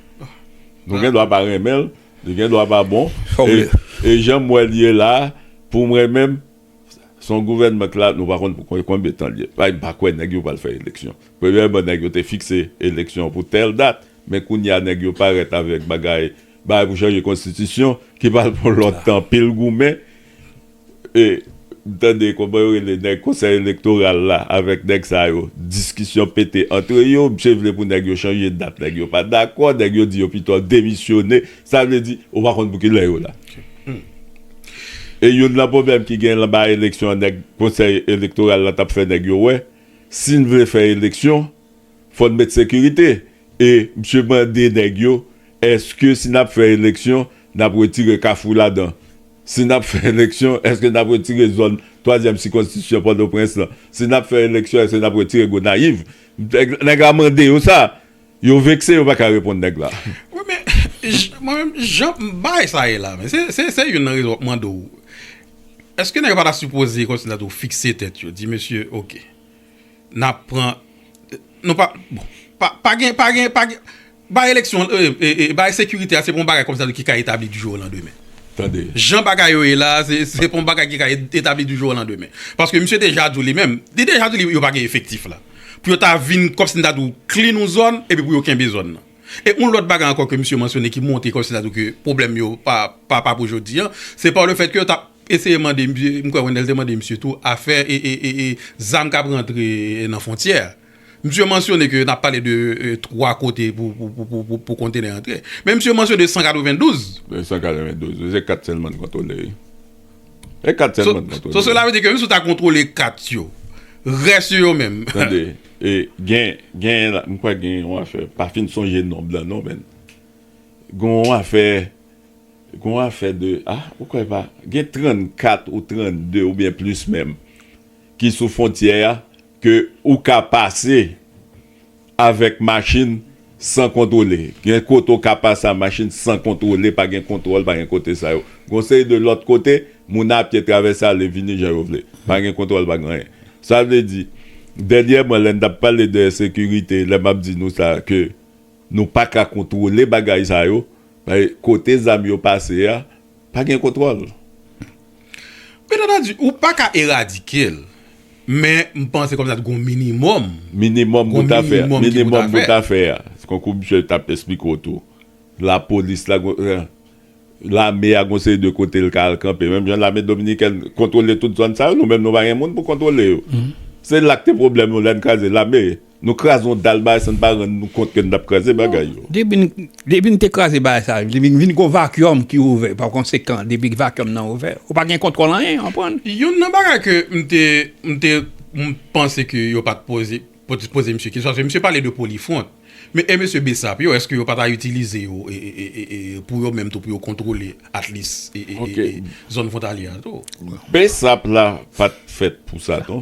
Nou gen dwa pa renmen l, li gen dwa pa bon. E janm wè l ye la, pou mwen menm. Son gouvènman k la nou pa konn pou konbyen tan l ye. Payn pa kwè nèg yo pral fè eleksyon. Premyèman nèg yo te fikse eleksyon pou tèl dat, men kounye a nèg yo parèt avèk bagay bagay pou chanje konstitisyon ki pral pran lòt tan anpil goumen. E m tande kòman yo rele nèg konsèy elektoral la avèk nèg sa yo diskisyon pete antre yo, msye vle pou nèg yo chanje dat nèg yo pa dakò, nèg yo di yo pito demisyone Sa vle di, ou pa konn pou kilè yo la. E youn nan pwoblèm ki gen anba eleksyon nèg konsèy elektoral la t ap fè nèg yo wè, si n vle fè eleksyon, fò n met sekirite. E msye mande nèg yo, èske si n ap fè eleksyon, n ap retire Kafou ladan? Si n ap fè eleksyon, èske n ap retire zòn twazyèm sikonstisyon Pòtoprens lan? Si n ap fè eleksyon, èske n ap retire Gonayiv? Nèg la mande yo sa. Yo vekse yo paka reponn nèg la. Wi men mwen menm jan bagay sa ye la men se youn nan rezon map mande w eske nèg yo pata sipoze kòmsi ta di w fikse tèt yo di mesye ok nap pran nou pa bon pa gen pa gen pa gen bay eleksyon bay sekirite a se pa yon bagay kòmsi ta di ki ka etabli di jou o landemen tande jan bagay yo ye la se pa yon bagay ki ka etabli di jou o landemen paske misye deja di w li menm li deja di w yo pa gen efektif la. pou yo ta vin kòm si n ta di w klin yon zòn epi pou yo kenbe zòn nan. E yon lòt bagay ankò ke misye mansyone ki montre kòm si n ta di w ke pwoblèm yo pa pa pou jodi an, se pa le fèt ke yo t ap eseye mande, m kwè Wendel te mande misye tou, afè zam k ap rantre nan fwontyè a. Misye mansyone ke n ap pale de 3 kote pou kontenè antre. Men misye mansyone 192. 192 wi, se 4 sèlman n kontwole wi. E 4 sèlman kontrole. So sela vle di ke menm si w ta kontrole 4 yo, rès yo yo menm. Tande, e gen, gen la, m kwè gen yon afè, pa fin sonje nonb la non men. Gon yon afè, gon yon afè de, a, ou kwè pa, gen 34 ou 32 oubyen plis menm ki sou fontyè a, Ke ou ka pase avèk machin san kontwole. Gen kote ou ka pase a machin san kontwole, pa gen kontwòl, pa gen kote sa yo. Gon seri de lòt kote, moun a pye travèse ale vini jan yo vle. Pa gen kontwòl, pa gen anyen. Sa vle di, dènyèman lè n t ap pale de ensekirite, lè m ap di nou sa a ke nou pa ka kontwole bagay sa yo, kote zam yo pase a, Pa gen kontwòl. Bien entendu, ou pa ka eradike l. Men, m panse kòmsa t gon minimòm. Minimòm pou ta fè. Minimòm pou ta fè a. Se konkou misye t ap esplike w tou. Lapolis la gon. Lame a gon seri de kote l ka al kanpe. Menm jan lame dominikèn kontwole tout zòn sa yo, nou menm nou pa gen moun pou kontwole yo. Se la k te pwoblèm nou lè n kraze lame. Nou kraze yon dal bagay san n pa rann nou kont ke n t ap kraze bagay yo. Depi n te kraze bagay sa yo, depi vin gen yon vakyòm ki ouvè, pakonsekan, depi vakyòm nan ouvè, ou pa gen kontwòl anyen, ou konprann? Youn nan bagay ke m te, m te panse ke yo pa t poze, pa t poze misye kesyon, paske misye pale de polifwont. Men e mesye Bsap yo, èske yo pa ta itilize yo pou yo menm tou pou yo kontwole atlis zòn fwontalyè a tou? Bsap la pa t fèt pou sa non.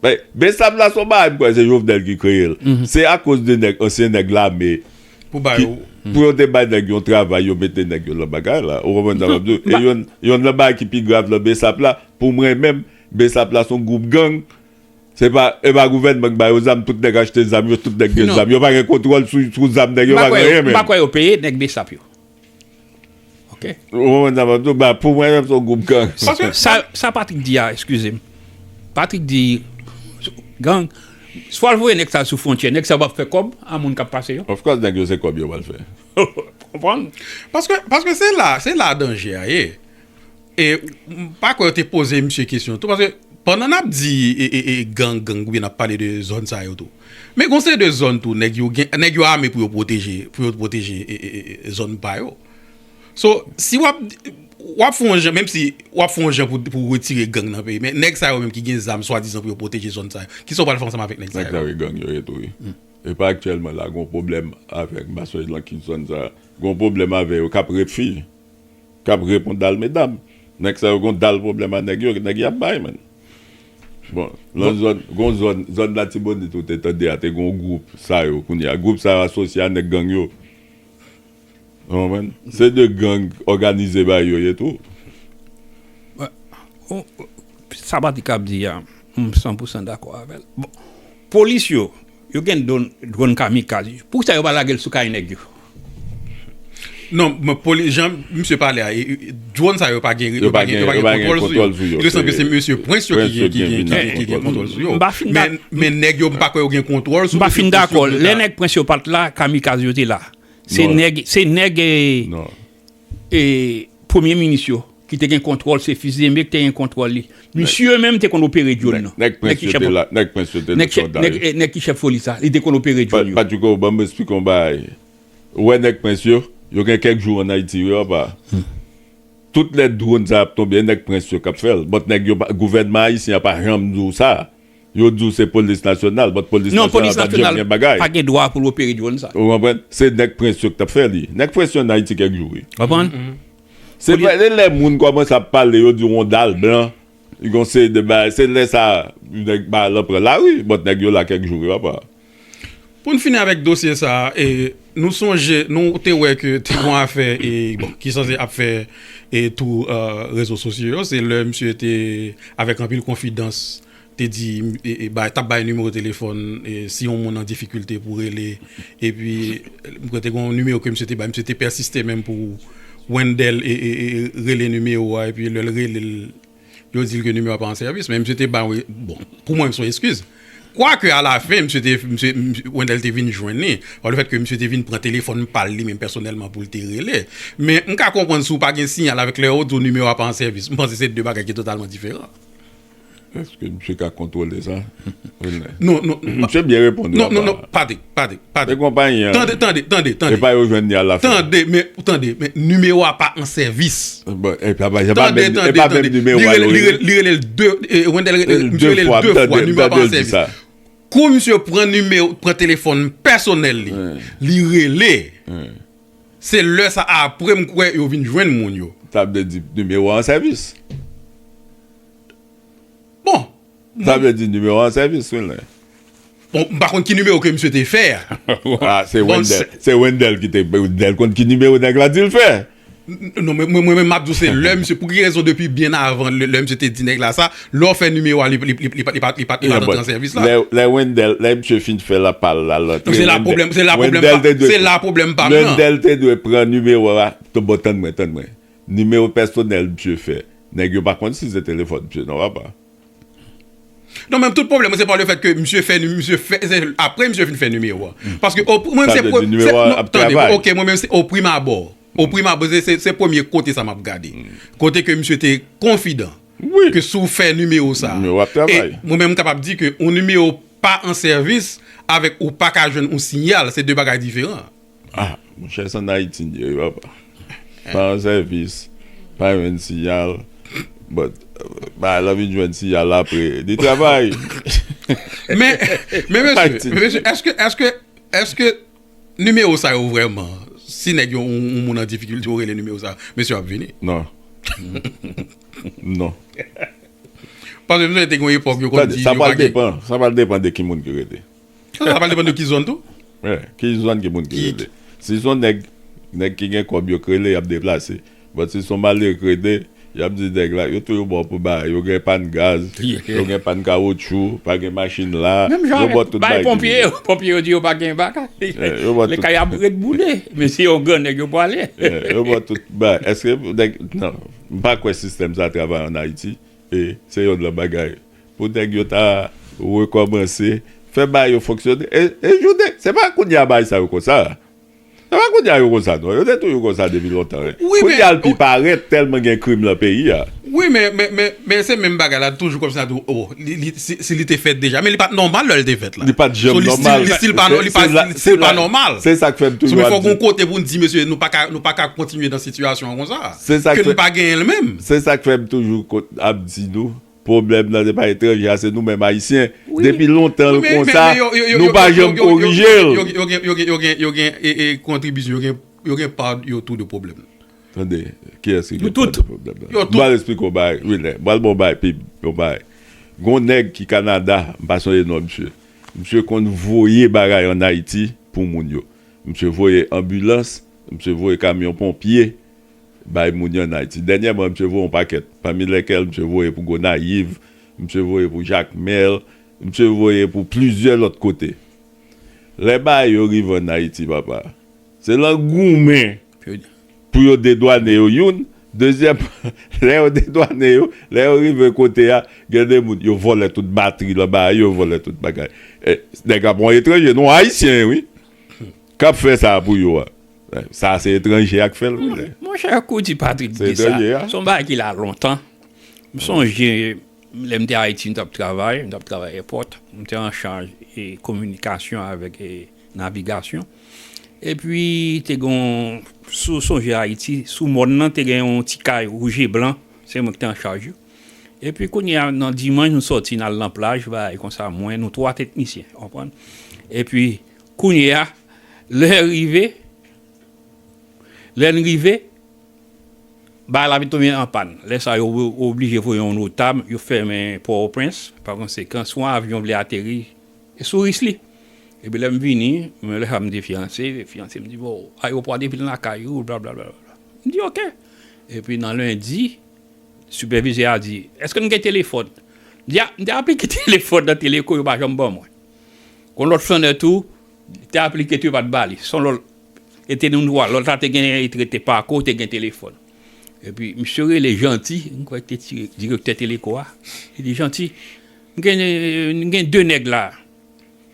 Men, besap la son bagay m kwè se Jovenel ki kreye l. Se akoz de nèg, ansyen nèg lame ki, pou yo te bay nèg yon travay, yo mete nèg yo lan bagay la. Ou konprann sa m ap di w? E yonn, yonn lan bagay ki pi grav lan besap la, pou mwen menm, besap la son gwoup gang. Se pa, e pa gouvènman ki ba yo zam, tout nèg achte zam yo, tout nèg gen zam. Yo pa gen kontwòl sou, sou zam nèg yo, yo pa gen anyen menm. M pa kwè yo peye nèg besap yo. Ok. Ou konprann sa m ap di w? Ba pou mwen menm se yon gwoup gang. Paske sa, sa Patrick di a, eskize m. Patrick di, gang, swa l voye nèg sa sou fwontyè, nèg sa yo pa ap fè kòb a moun k ap pase yo? Of course nèg yo se kòb yo pral fè. Ou konprann? Paske, paske se la, se la danje a ye. E m pa kwè yo te poze misye kesyon tou paske pandan n ap di gang gang oubyen n ap pale de zòn sa yo tou men gon seri de zòn tou nèg yo gen nèg yo ame pou yo pwoteje pou yo pwoteje zòn pa yo so si w ap w ap fè yon jan menmsi w ap fè yon jan pou w retire gang nan peyi men nèg sa yo menm ki gen zam swadizan pou yo pwoteje zòn sa yo kisa w pral fè ansanm avèk nèg sa yo. Nèg sa yo gang yo ye tou wi e pa aktyèlman la gon pwoblèm avèk masaj lan ki zòn sa gon pwoblèm avè yo k ap ret fi. Kap repon dal medam. Nèg sa yo gon dal problèm a nèg yo nèg yap bay man bon nan zòn gon zòn zòn latibonit ou te tande a te gon gwoup sa yo kounye a gwoup sa yo asosye a nèg gang yo ou konprann se de gang òganize bay yo ye tou. Sa Batika ap di a m san pousan dakò avèl bon polis yo Yo gen drone kamikaz. Poukisa yo pa lagel sou kay neg yo. Non men polis jan misye pale a drone sa yo pa gen yo pa gen kontwòl sou yo. Li sanble se mesye prince yo ki gen kontwòl sou yo. Men nèg yo m pa kwè yo gen kontwòl sou yo. M pa fin dakò lè nèg prince yo pat la kamikaz yo te la. Se nèg se nèg. E premye minis yo ki te gen kontwòl se Fils d'Aimé ki te gen kontwòl li. Misye yo menm te konn opere dyòn nan. Nèg Prince yo te la, nèg Prince yo te nan sòlda yo. Nèg ki chèf polis la, li te konn opere dyòn yo. Patrico, ban m esplike w yon bagay. Ou wè nèg Prince yo, yo gen kèk jou an Ayiti wi apa. Tout lè dwòn sa y ap tonbe, nèg Prince yo k ap fè l. Bòt nèg yo, gouvènman ayisyen an pa janm di w sa. Yo di w se polis nasyonal, but polis nasyonal pa janm gen bagay. Non, polis nasyonal pa gen dwa pou l opere dwòn sa. Ou konprann? Se nèg prens yo ki t ap fè li. Nèg prens yo an Ayiti kèk jou wi. Konprann? Se pa se lè moun kòmanse ap pale yo di w on dal blan, gen yon seri de bagay, se lè sa a nèg balan pran lari, but nèg yo la kèk jou wi papa. Pou n fini avèk dosye sa a, nou sonje nou te wè ke te gen yon afè ki sanse ap fè tou rezo sosyo yo, se lè misye te avèk anpil konfidans te di ta ap bay nimewo telefòn si yon moun an difikilte pou rele epi m kwè te gen yon nimewo ke misye te bay, misye te pèsiste menm pou Wendel rele nimewo a epi lè l rele l. Yo di l ke nimewo a pa an sèvis, men misye te ba yon, bon, pou mwen se yon eskiz. Kwake a la fen, misye te, misye, Wendell te vin jwenn li, pa le fèt ke misye te vin pran telefòn pa l li menm pèsonèlman pou l te rele. Men, m ka konprann si w pa gen siyal avèk lè yo di w nimewo a pa an sèvis. M panse se de bagay ki totalman diferan. Eske misye ka kontwole sa, Wendell? Non, non. Misye byen reponn ou apa. Non, non, non, Patrick. Tande, tande. E konpayi an. Tande, tande, tande, tande. Epa yo jwenn li a la fen. Tande, men, tande, men, nimewo a pa an sèvis. Bon, e pa, e pa menm, e pa menm nimewo a yo rele. Li rele l de, Wendel rele l, misye rele l de fwa, nimewo a pa an sèvis. Kou misye pran nimewo, pran telefòn pèsonèl li, li rele, se lè sa a apre m kwè yo vin jwenn moun yo. Sa vle di nimewo a an sèvis. Bon. Sa vle di nimewo an sèvis wi len. Bon m pa konn ki nimewo ke misye te fè a. A se Wendel se Wendel ki te Wendel konn ki nimewo nèg la dil fè. Non mwen menm map di w se lè misye pou ki rezon depi byen avan lè misye te di nèg la sa lè w fè nimewo a li pat li pat antre an sèvis la. Lè Wendel lè misye fin fè la pa l la l antre. Se la pwoblèm se la pwoblèm pa m se la pwoblèm pa m nan. Wendel te dwe pran nimewo a bon tann mwen tann mwen. Nimewo pèsonèl msye fè nèg yo pa konn si se telefòn msye non papa. Non men tout problèm mwen se pa le fèt ke msye fè msye fè se aprè msye fin fè nimewo a paske o mwen menm se premye non tande ok mwen menm se o prim abò o prim abò se premye kote sa map gade kote ke msye te konfidan ke si w fè nimewo sa e mwen menm kapab di ke yon nimewo pa an sèvis avèk ou paka jwenn yon sinyal se de bagay diferan. Ah monchè s an ayiti n ye wi papa pa an sèvis pa jwenn siyal but bagay la vin jwenn siyal apre li travay Men men mesye men mesye èske èske èske nimewo sa yo vrèman si nèg yo yon moun an difikilte yo rele nimewo sa mesye yo ap vini nan non paske m sonje te gen yon epòk yo konn di sa pral depan sa pral depan de ki moun ki rele. Sa pral depann de ki zòn tou. Wi, ki zòn ki moun ki rele. Si son nèg, nèg ki gen kòb yo k rele y ap deplase. But si son malere k rele, y ap di nèg la, yo toujou ba w pou bagay. Yo gen pàn gaz, yo gen pàn kawotchou, pa gen machin la. Menm jan avèk bay ponpye yo. Ponpye yo di yo pa gen bagay. Lè kay ap ret boule. Men se yon gran nèg yo pwale. Yo ba w tout bagay. Èske nèg, nan, m pa kwè sistèm sa travay an Ayiti. E se yonn nan bagay. Pou nèg yo ta rekòmanse fè bagay yo fonksyone e jounen se pa kounya bagay sa yo konsa se pa kounya yo konsa non yo te toujou konsa depi lontan kounya l pi parèt tèlman gen krim lan peyi a. Wi men men se menm bagay la toujou kòmsi nap di o si li te fèt deja men li pat nòmal lè l te fèt la li pat janm nòmal li stil pa nòmal se sa k fè m toujou ap di fòk gon kote pou n di mesye nou pa ka kontinye nan sitiyasyon konsa ke nou pa genyen l menm se sa k fè m toujou ap di nou. Pwoblèm nan se pa etranje a se nou menm ayisyen depi lontan l konsa nou pa janm korije l. Yo gen kontribisyon yo gen yo gen pa yo tou de pwoblèm nan. Tande kiyès ki gen pa de pwoblèm nan. M pral esplike w yon bagay Wilner m pral ba w yon bagay pib yon bagay gon nèg ki Kanada m pa sonje non misye misye konn voye bagay an Ayiti pou moun yo misye voye anbilans misye voye kamyon ponpye bay moun yo ann Ayiti. Dènyèman, misye voye yon pakèt, pami lèkèl misye voye pou Gonayiv, misye voye pou Jakmèl, misye voye pou plizyè lòt kote. Lè bagay yo rive ann Ayiti, papa, se lan goumen pou yo dedwane yo, youn, dezyèman, lè yo dedwane yo, lè yo rive kote a, gen de moun, yo vòlè tout batri lan bagay yo, yo vòlè tout bagay. Nèg la pa yon etranje non, Ayisyen wi, k ap fè sa pou yo a. Sa se etranje a k fè l wi le. Monchè kou ti Patrick di sa, son bagay ki la lontan. M sonje lè m te Ayiti m t ap travay, m t ap travay èpòt, m te an chaj e kominikasyon avèk e navigasyon. Epi te gen yon, si w sonje Ayiti, sou mòn nan te gen yon ti kay wouj e blan, se mwen ki te an chaj yo. Epi kounye a nan dimanch nou sòti n al nan plaj bagay konsa mwen, nou twa teknisyen, w konprann? Epi. Kounye a, lè rive, lè n rive, bagay la vin tonbe an pàn. Lè sa a, yo oblije voye yon notab, yo fèmen Pòtoprens. Pakonsekan, si yon avyon vle ateri, e sou ris li. Epi lè m vini, mwen lè sa a m te fyanse, fyanse m di, bon, ayewopò a te vin lakay ou, blablabla. M di ok. Epi nan lendi, sipèvizè a di, èske nou gen telefòn? M di a, m te aplike telefòn nan Teleko, yo pa janm ban mwen. Yon lòt flannè tou te aplike tou yo pa t ba li. Son lòt e te yon dwa. Lòt la te gen li te rete Pako, te gen telefòn. Epi misye rele Janti, m kwè li te direktè Teleko a, li di Janti, m gen m gen de nèg la,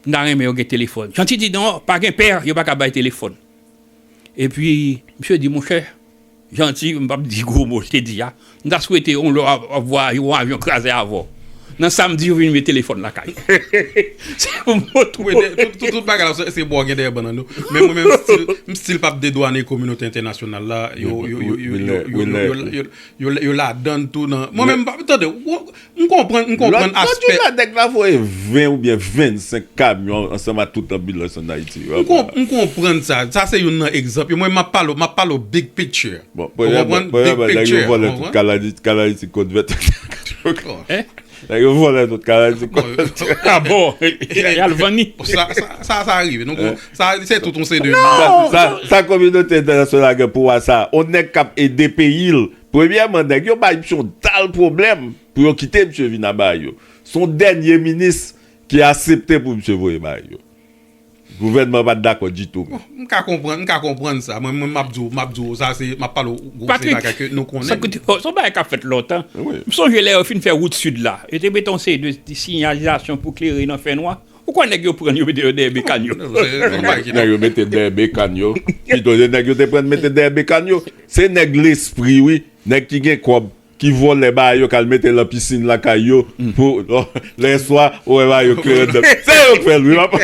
m ta renmen yo gen telefòn. Janti di non, pa gen pè, yo pa ka bay telefòn. Epi misye di monchè. Janti, m pap di gwo mo te di a. M ta swete yon lè wap vwa yon avyon kraze avw. Nan sam di yo vin met telefòn lakay. Se pou m retounen. Wi, tout bagay la se bo gen dèyè bannann yo. Men mwen menm stil, m stil pap dedwane kominote entènasyonal la. Yo ladann tou nan. Mwen menm m pap, tande, tande. M konprann, m konprann aspè. Lòt jou la nèg la voye 20 oubyen 25 kamyon ansanm ak tout anbilans an Ayiti yo. M konprann sa. Sa se youn nan egzanp yo. Mwen m ap pale w, m ap pale w big picture. Bon, premyèman, premyèman nèg yo vòlè tout kalanit, kalanit ti kòd vèt. Nèg yo vòlè tout kalanit ti kòd vèt. A bon! Y al vann li. Sa, sa, sa rive. Nou kon, sa se tout yon seri de. Non! Sa, sa kominote entènasyonal gen pou wè sa a? On nèg k ap ede peyi l, Premyèman nèg yo bay misye yon dal pwoblèm pou yo kite misye vin a bay yo. Se yon dènye minis ki asepte pou misye voye bay yo. Gouvènman an pa t dakò ditou menm. M ka konprann, m ka konprann sa. Mwen menm m ap di w, m ap di w sa se, m ap pale w gwo se bagay ke nou konnen. Patrik, sa se yon bagay k ap fèt lontan. M sonje lè yo fin fè wout sid la, yo te mete yon seri de sinyalizasyon pou klere nan fènwa. Ou kwè nèg yo pran yo mete yo dèyè bekàn yo? Nèg yo mete dèyè bekàn yo. Pito se nèg yo te pran mete dèyè bekàn yo. Se nèg lespri wi. Nèg ki gen kòb. Ki vòlè bagay yo k al mete lan pisin lakay yo. Pou lèswa ou wè bagay yo klere anndan. Se yo k fè l wi wap.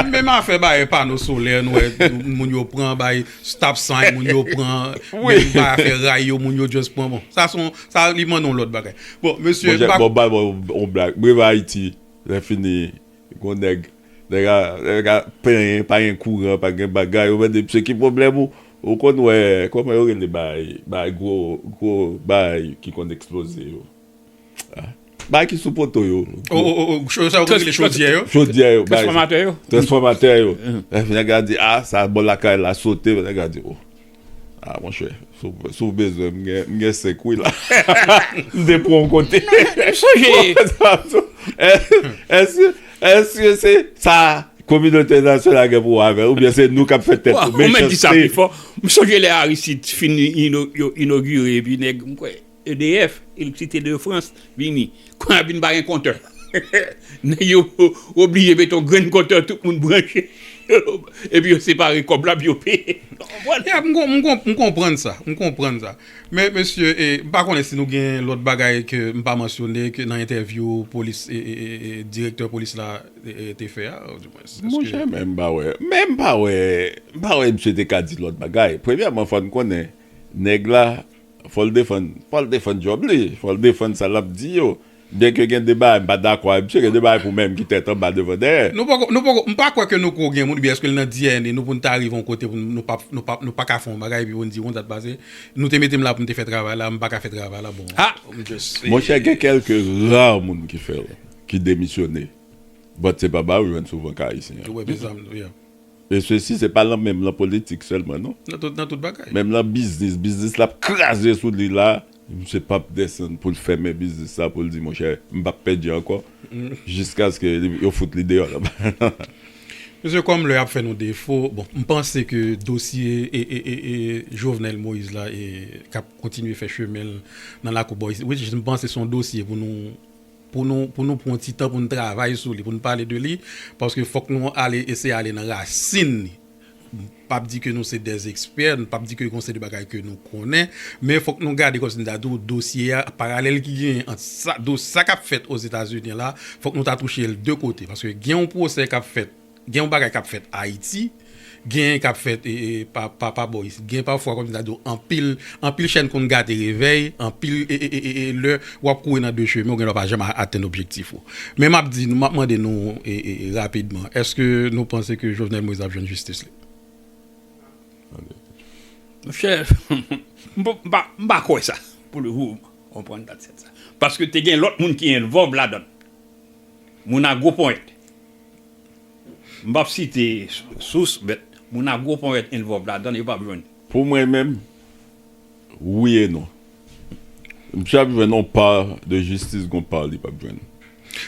Menm afè bay pano solè nou wè moun yo pran bay stop sign moun yo pran. Menm bay afè ray yo moun yo just pran bon. Sa son sa li mande yon lòt bagay. Bon mesye. Bon bal mwen yon blag. Breva Ayiti. Lè fini gon nèg nèg a nèg a plenyen pa gen kouran pa gen bagay ou mande misye ki pwoblèm ou ou konn wè kòman yo rele baay baay gwo gwo baay ki konn eksploze yo a baay ki sou poto yo o o o cho sa yo konn rele chodyè yo chodyè yo baay transfòmatè yo transfòmatè yo nèg la di a sa bò lakay la sote nèg la di o. Ah monchè, si w bezwen m gen 5 wi la. M te pran w kote. M sonje. Èske se sa kominote entènasyonal gen pou wè avè l oubyen se nou k ap fè tèt nou mechanste? Ou menm di sa pi fò. M sonje lè Aristide fin inogire epi nèg m kwè. EDF, Electricité de France, vini. Kounye a vin pa gen kontè. Nèg yo oblije mete yon grenn kontè tout moun branche. Epi yo separe kòb la pou yo peye. Nou konprann? Ya, m konprann sa. M konprann sa. Men mesye, m pa konnen si nou gen lòt bagay ke m pa mansyone ke nan entèvyou polis, direktè polis la te fè a, ou di mwens eske. Monchè, men m pa wè. Men m pa wè, m pa wè misye te ka di lòt bagay. Premyèman fò n konnen nèg la. Fò l defann, fò l defann djòb li, fò l defann sa l ap di yo. Byenke gen de bagay m pa dakò avèk msye, gen de bagay pou mwen menm ki tèt anba devan dèyè. Nou poko, nou poko, m pa kwè ke nou ko gen moun, oubyen eske l nan DNA nou pou n ta rive yon kote pou n, nou pap, nou pap, nou pa ka fè yon bagay epi pou n di, yon dat pase, nou te mete m la pou m te fè travay la, m pa ka fè travay la, bon, m just. Monchè gen kèlke rare moun ki fè l, ki demisyone, but se pa bagay ou jwenn souvan ka Ayisyen. Ou wè mezanmi, yeah. E sesi se pa lan menm lan politik selman non. Nan tout nan tout bagay. Menm lan biznis, biznis lap kraze sou li la, misye pap desann poul fèmen biznis sa poul di monchè m pap pèdi ankò jiskaske yo fout li deyò la ba. Mesye kòm lè ap fè nou defo, bon m panse ke dosye Jovenel Moïse la kap kontinye fè chemen l nan lakou Boys Ridge, m panse son dosye pou nou. pou nou pou nou pran yon ti tan pou nou travay sou li pou nou pale de li paske fòk nou ale eseye ale nan rasin li m pap di ke nou se dè ekspè m pap di ke gon seri de bagay ke nou konnen men fòk nou gade kòmsi m ta di w dosye a paralèl ki genyen ant sa do sa k ap fèt ozetazini la fòk nou ta touche l de kote paske gen yon pwosè k ap fèt Gen yon bagay kap fèt ayiti gen kap fèt pa pa bò isit gen pafwa kòm ta diw anpil anpil chèn konn gate revèy anpil lè wap kouri nan de chemen ou gen lè pa janm atenn objektif ou men map di nou map mande nou rapidman èske nou panse ke Jovenel Moïse ap jwenn jistis li monchè mpa kwè sa pou le vo konprann dat sèt sa paske te gen lòt moun ki envòlv ladann moun a gwo ponyèt M pap site sous but moun agro ponyèt involve ladann yo pap jwenn. Pou mwen menm, wi e non. Misye ap jwenn yon pa de jistis gon pa li pap jwenn.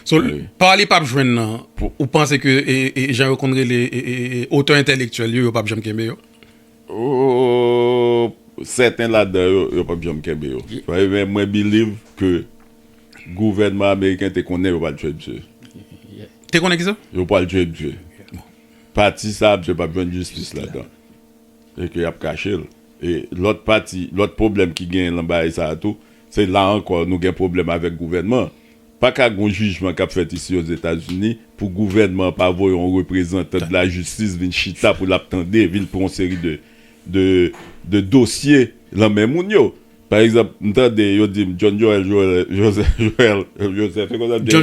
So, pa li pap jwenn nan, ou panse ke jan yo konn rele otè entèlektyèl yo, yo pap janm kenbe yo? Sèten ladan yo, yo pap janm kenbe yo. Men mwen believe ke. Gouvènman ameriken te konnen yo pral tue misye. Te konnen kisa? Yo pral tue misye. Pati sa misye pap jwenn jistis ladan. E ke yap kache l. E lòt pati, lòt pwoblèm ki genyen lan bagay sa a tou, se la ankò nou gen pwoblèm avèk gouvènman an. Pa ka gon jijman kap fèt isi ozetazini pou gouvènman an pa voye yon reprezantan de la jistis vin chita pou lap tande, vin pran yon seri de de dosye lan men moun yo. Pa egzanp, m tande yo di m John Joel Joseph, e konsa m te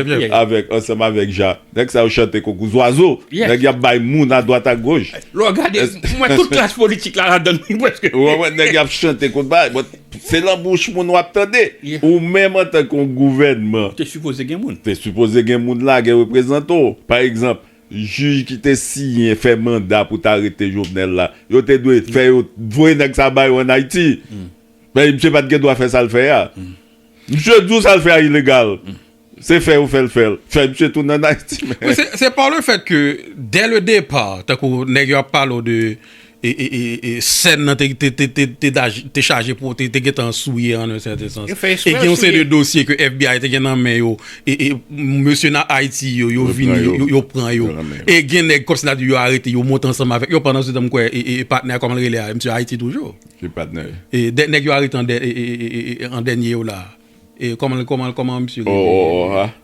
rele l avèk ansanm avèk jan nèg sa yo chante konkou zwazo, nèg y ap bay moun adwat agoch. Lè w gade, m wè tout klas politik la ladan l tou prèske. Ou konprann? Nèg y ap chante konkou bagay, bon, se lan bouch moun w ap tande. Ou menm antanke yon gouvènman. Te sipoze gen moun. Te sipoze gen moun la, gen reprezantan w. Pa egzanp. Jij ki te siyen fè manda pou ta rete Jovenel la yo te dwe fè yo voye nèg sa ba yo an Ayiti paske misye pat gen dwa fè sal fè a misye di w sal fè a ilegal se fè yo fè l fè l fè misye tounen an Ayiti men. Wi se par le fait que dès le départ tankou nèg yo ap pale w de e sèn nan te chaje pou te gen tan souye an un sèten sans e gen yon seri de dosye ke FBI te gen nan men yo e mesye nan Ayiti yo yo vini yo pran yo e gen nèg kòm si ta di yo arete yo monte ansanm avèk yo pandan se tan m kwè e patnè a kòman l rele a misye Ayiti toujou ki patnè e dè nèg yo arete an dènye yo la e kòman kòman misye rele o o o a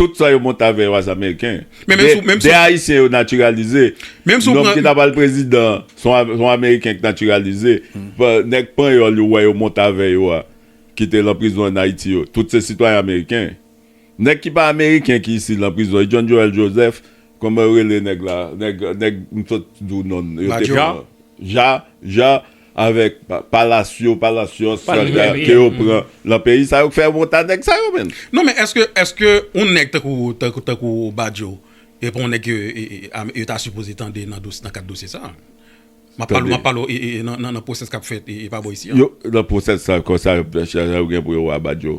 Tout sa yo monte avè yo a se ameriken. De ayisyen yo natiralize. Nonm ki ta pral prezidan son ameriken ki natiralize. Nèg panyòl yo wè yo monte avè yo a ki te lan prizon an ayiti yo tout se sitwayen ameriken. Nèg ki pa ameriken ki isi lan prizon e John Joel Joseph kòman yo rele nèg la nèg m sot di w non l. Jacques. Jacques. Avèk Palacio, Palacios, ke yo pran lan peyi sa yo k fè yo wont a nèg sa yo menn. Non men eske, eske yon nèg tankou, tankou Badio e pa yon nèg ke yo ta sipoze tande nan dosye, nan kad dosye sa? Map pale, map pale nan pwosès kap fèt e pa bò isi an. Yo, nan pwosès sa konsa yo gen pou yo wè Badio.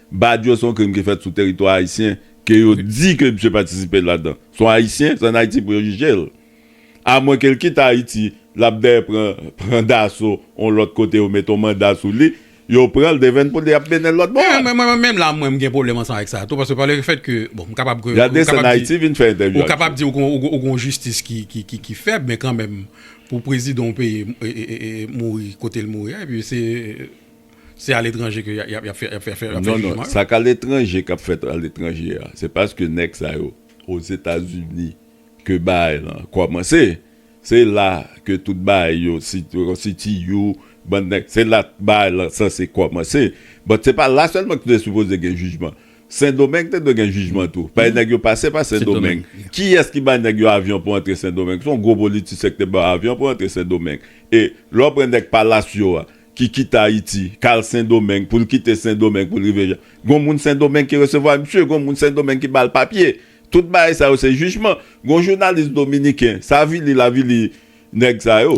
Badio son krim ki fèt sou teritwa ayisyen ke yo di ke misye patisipe ladan. Son ayisyen, se an Ayiti pou yo jije l. A mwen ke l kite Ayiti, l ap dèyè pran pran daso on lòt kote yo mete on manda sou li, yo pran l devenn pou l y ap mennen l lòt bò a. Mwen menm la mwen m gen pwoblèm ansanm avèk sa a tou paske pa le fèt ke bon m kapab ke Yal desann Ayiti vin fè entèvyou ak yo. Ou kapab di ou gon ou gon jistis ki ki ki ki fèb men kanmenm pou prezidan on peyi mouri kote l mouri a epi se Se a letranje ke yap yap fè fè fè jijman yo. Non non, sa ka letranje kap fèt a letranje a, se paske nèg sa yo ozetazini ke baay lan kòmanse, se la ke tout baay yo siti yo bann nèg, se la baay lan sanse kòmanse, but se pa la sèlman ki te sipoze gen jijman, sendomeng te dwe gen jijman tou, paske nèg yo pase pa sendomeng, kiyès ki bay nèg yo avyon pou antre sendomeng, son gwo politisyen ki te ba yo avyon pou antre sendomeng, e lè w pran nèg palasyo a, ki kite Ayiti, kal Sendomeng, pou l kite Sendomeng pou l rive Jan, gon moun Sendomeng ki resevwa misye, gon moun Sendomeng ki ba l papye. Tout bagay sa yo se jijman. Gon jounalis dominiken, sa avili l avili nèg sa yo.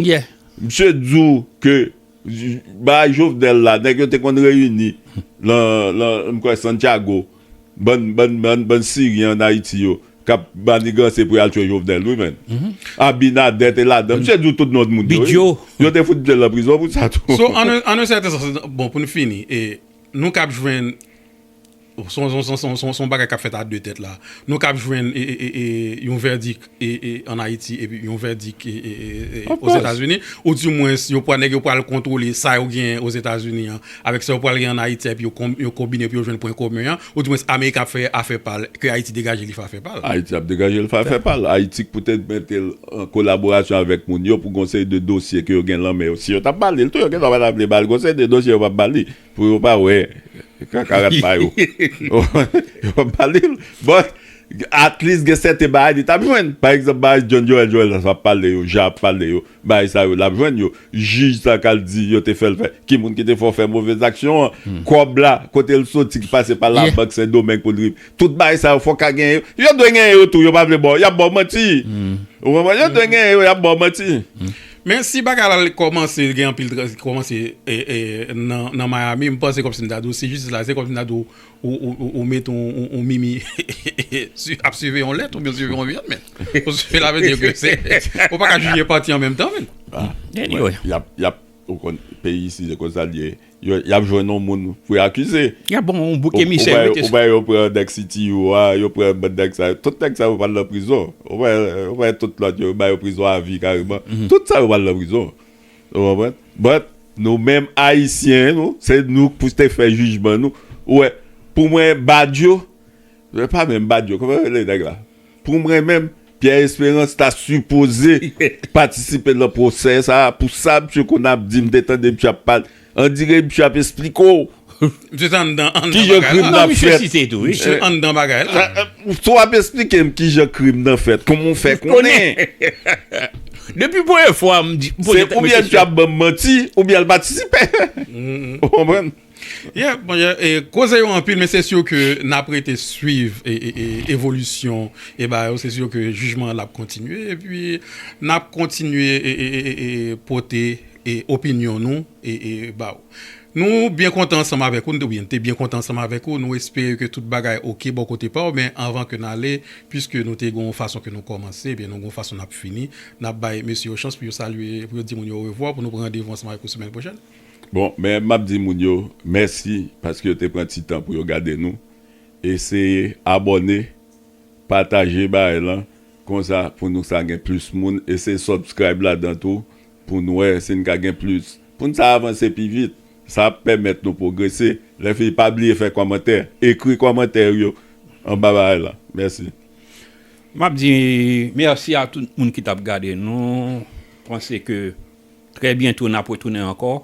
Misye di w ke bagay Jovenel la, nèg yo te konn reyini lan, lan, m kwè Santiago. Bann bann siryen an ayiti yo kap maniganse pou yal tchwe jovenel wi menn abinader te ladan misye di tout non moun yo wi yo te fout metel nan prizon pou sa tou so an un certain sens bon poun fini e nou kap jwenn son son son son bagay kap fèt a de tèt la nou kap jwenn e e e yon vèdik an Ayiti epi yon vèdik Ozetazini, ou di mwens yo pwa nèg yo pwal kontwole sa yo genyen Ozetazini an avèk sa yo pwal genyen an Ayiti a epi yo kon yo konbine epi yo jwenn pwen komen an, ou di mwens Amerik ap fè afè pal ke Ayiti degaje li fè afè pal. Ayiti ap degaje l fè afè pal. Ayiti k poutèt mete l an kolaborasyon avèk moun yo pou gon seri de dosye ke yo gen lan men yo. Si yo tap ba li l tou yo gen dwa pa ta vle ba l gon seri de dosye yo pap ba li. Pou yo pa wè kaka rat pa yo. Wap pale bon at least gen sèten bagay li tap jwenn pa egzanp bagay John Joel Joel la ap pale yo Jean ap pale yo bagay sa yo lap jwenn yo jij sa kal di yo te fèl fè ki moun ki te fè w fè move zaksyon an kòb la kotel soti ki pase pa labank sendomeng pou l tout bagay sa yo fòk ka genyen yo yo dwe genyen yo tou yo pa vle ba w yap ba w manti ou konprann yo dwe genyen yo yap ba w manti. Men si bagay la li kòmanse gen anpil tran li kòmanse nan Miami m panse kòmsi m ta di w si jistis la se kòmsi m ta di w ou mete yon mimi ap siviye yon lèt oubyen siviye yon vyann menn sela vle di ke se ou pa ka jije pati an menm tan menn Anyway yap yap ou konn peyi isit se konsa l ye Y ap jwenn yon moun pou y akize. Y ap ban w yon bouk emisè wi te sa. Ou wè yo pran nèg CTU a, yo pran bann nèg sa yo. Tout nèg sa yo pral nan prizon. Ou wè tout lòt yo, yo ba yo prizon avi kareman. Tout sa yo pral nan prizon. Ou konprann? But, nou menm Ayisyen nou, se nou pou te fè jijman nou. Ou wè, pou mwen Badio, se pa menm Badio, kòman yo rele nèg la? Pou mwen menm, Pierre Esperance ta sipoze patisipe nan pwosè sa a pou sa misye konn ap di m te tande misye ap pale andire misye ap esplike w kijan krim nan fèt wap esplike m kijan krim nan fèt kòman w fè konnen se oubyen misye ap banm manti oubyen l patisipe ou konprann. Yeah mon cher, e koze yo anpil men se sur ke nap rete swiv evolisyon e bagay yo se sur ke jijman an lap kontinye epi nap kontinye e pote opinyon nou ba ou. Nou byen kontan ansanm avèk ou, oubyen nou te byen kontan ansanm avèk ou, nou espere ke tout bagay ok bò kote pa ou men anvan ke n ale puiske nou te gen yon fason ke nou kòmanse ebyen nou gen yon fason nap fini nap bay mesye yo chans pou yo salye pou yo di moun yo orevwa pou nou pran randevou ansanm avèk ou semèn pwochèn. Bon, men map di moun yo mèsi paske yo te pran ti tan pou yo gade nou. Eseye abòne, pataje bagay lan konsa pou nou sa gen plis moun. Eseye subscribe ladan tou pou n wè si n ka gen plis. Pou n sa avanse pi vit. Sa ap pèmèt nou pwogrese. Lè fini pa bliye fè kòmantè. Ekri kòmantè ou yo anba bagay lan. Mèsi. Map di mèsi a tout moun ki tap gade nou. Panse ke. Trè byento nap retounen ankò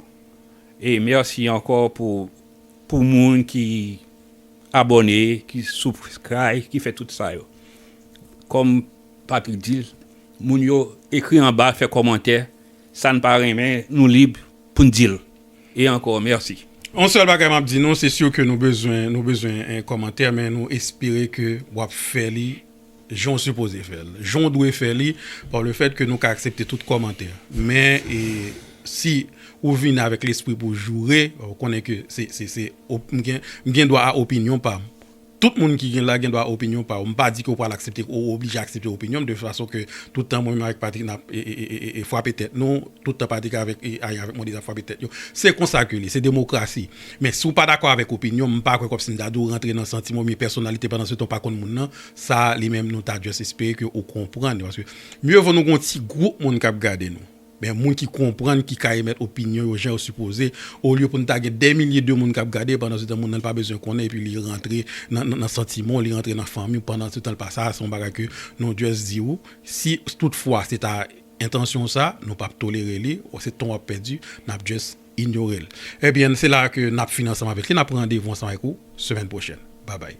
e mèsi ankò pou pou moun ki abòne ki subscribe ki fè tout sa yo kòm Patrick dil moun yo ekri anba fè kòmantè sa n pa renmen nou lib pou n dil e ankò mèsi. Yon sèl bagay map di nou se sur ke nou bezwen nou bezwen kòmantè men nou espere ke wap fè li. jan w sipoze fè l, jan w dwe fè li, pa le fèt ke nou ka aksepte tout kòmantè. Men, si ou vini avèk lespri pou joure, ou konnen ke se, m gen dwa a opinyon pa m. Tout moun ki gen la gen dwa a opinyon pa yo. M pa di ke ou pral aksepte, ou oblije aksepte opinyon m, de fason ke tout tan mwen menm avèk Patrick nap fwape tèt nou, tout tan Patrick avèk Aya avèk Modesto ap fwape tèt yo. Se konsa ke li, se demokrasi. Men si w pa dakò avèk opinyon m, m pa kwè kòmsi m ta di w rantre nan santiman oubyen pèsonalite pandan se tan w pa konn moun nan, sa a li menm nou ta just espere ke ou konprann paske mye vo nou gen yon ti gwoup moun k ap gade nou men moun ki konprann ki ka emèt opinyon yo jan yo sipoze olye pou n ta gen dè milye de moun k ap gade pandan se tan moun nan l pa bezwen konnen epi li rantre nan santiman w, li rantre nan fanmi w pandan se tan l pa sa a se yon bagay ke nou just di w si tout fwa se ta entansyon w sa nou p ap tolere li se tan w ap pèdi n ap just. Ignore l. Ebyen se la a ke nap fini ansanm avèk li. Nap pran randevou ansanm avèk ou semèn pwochèn. Babay.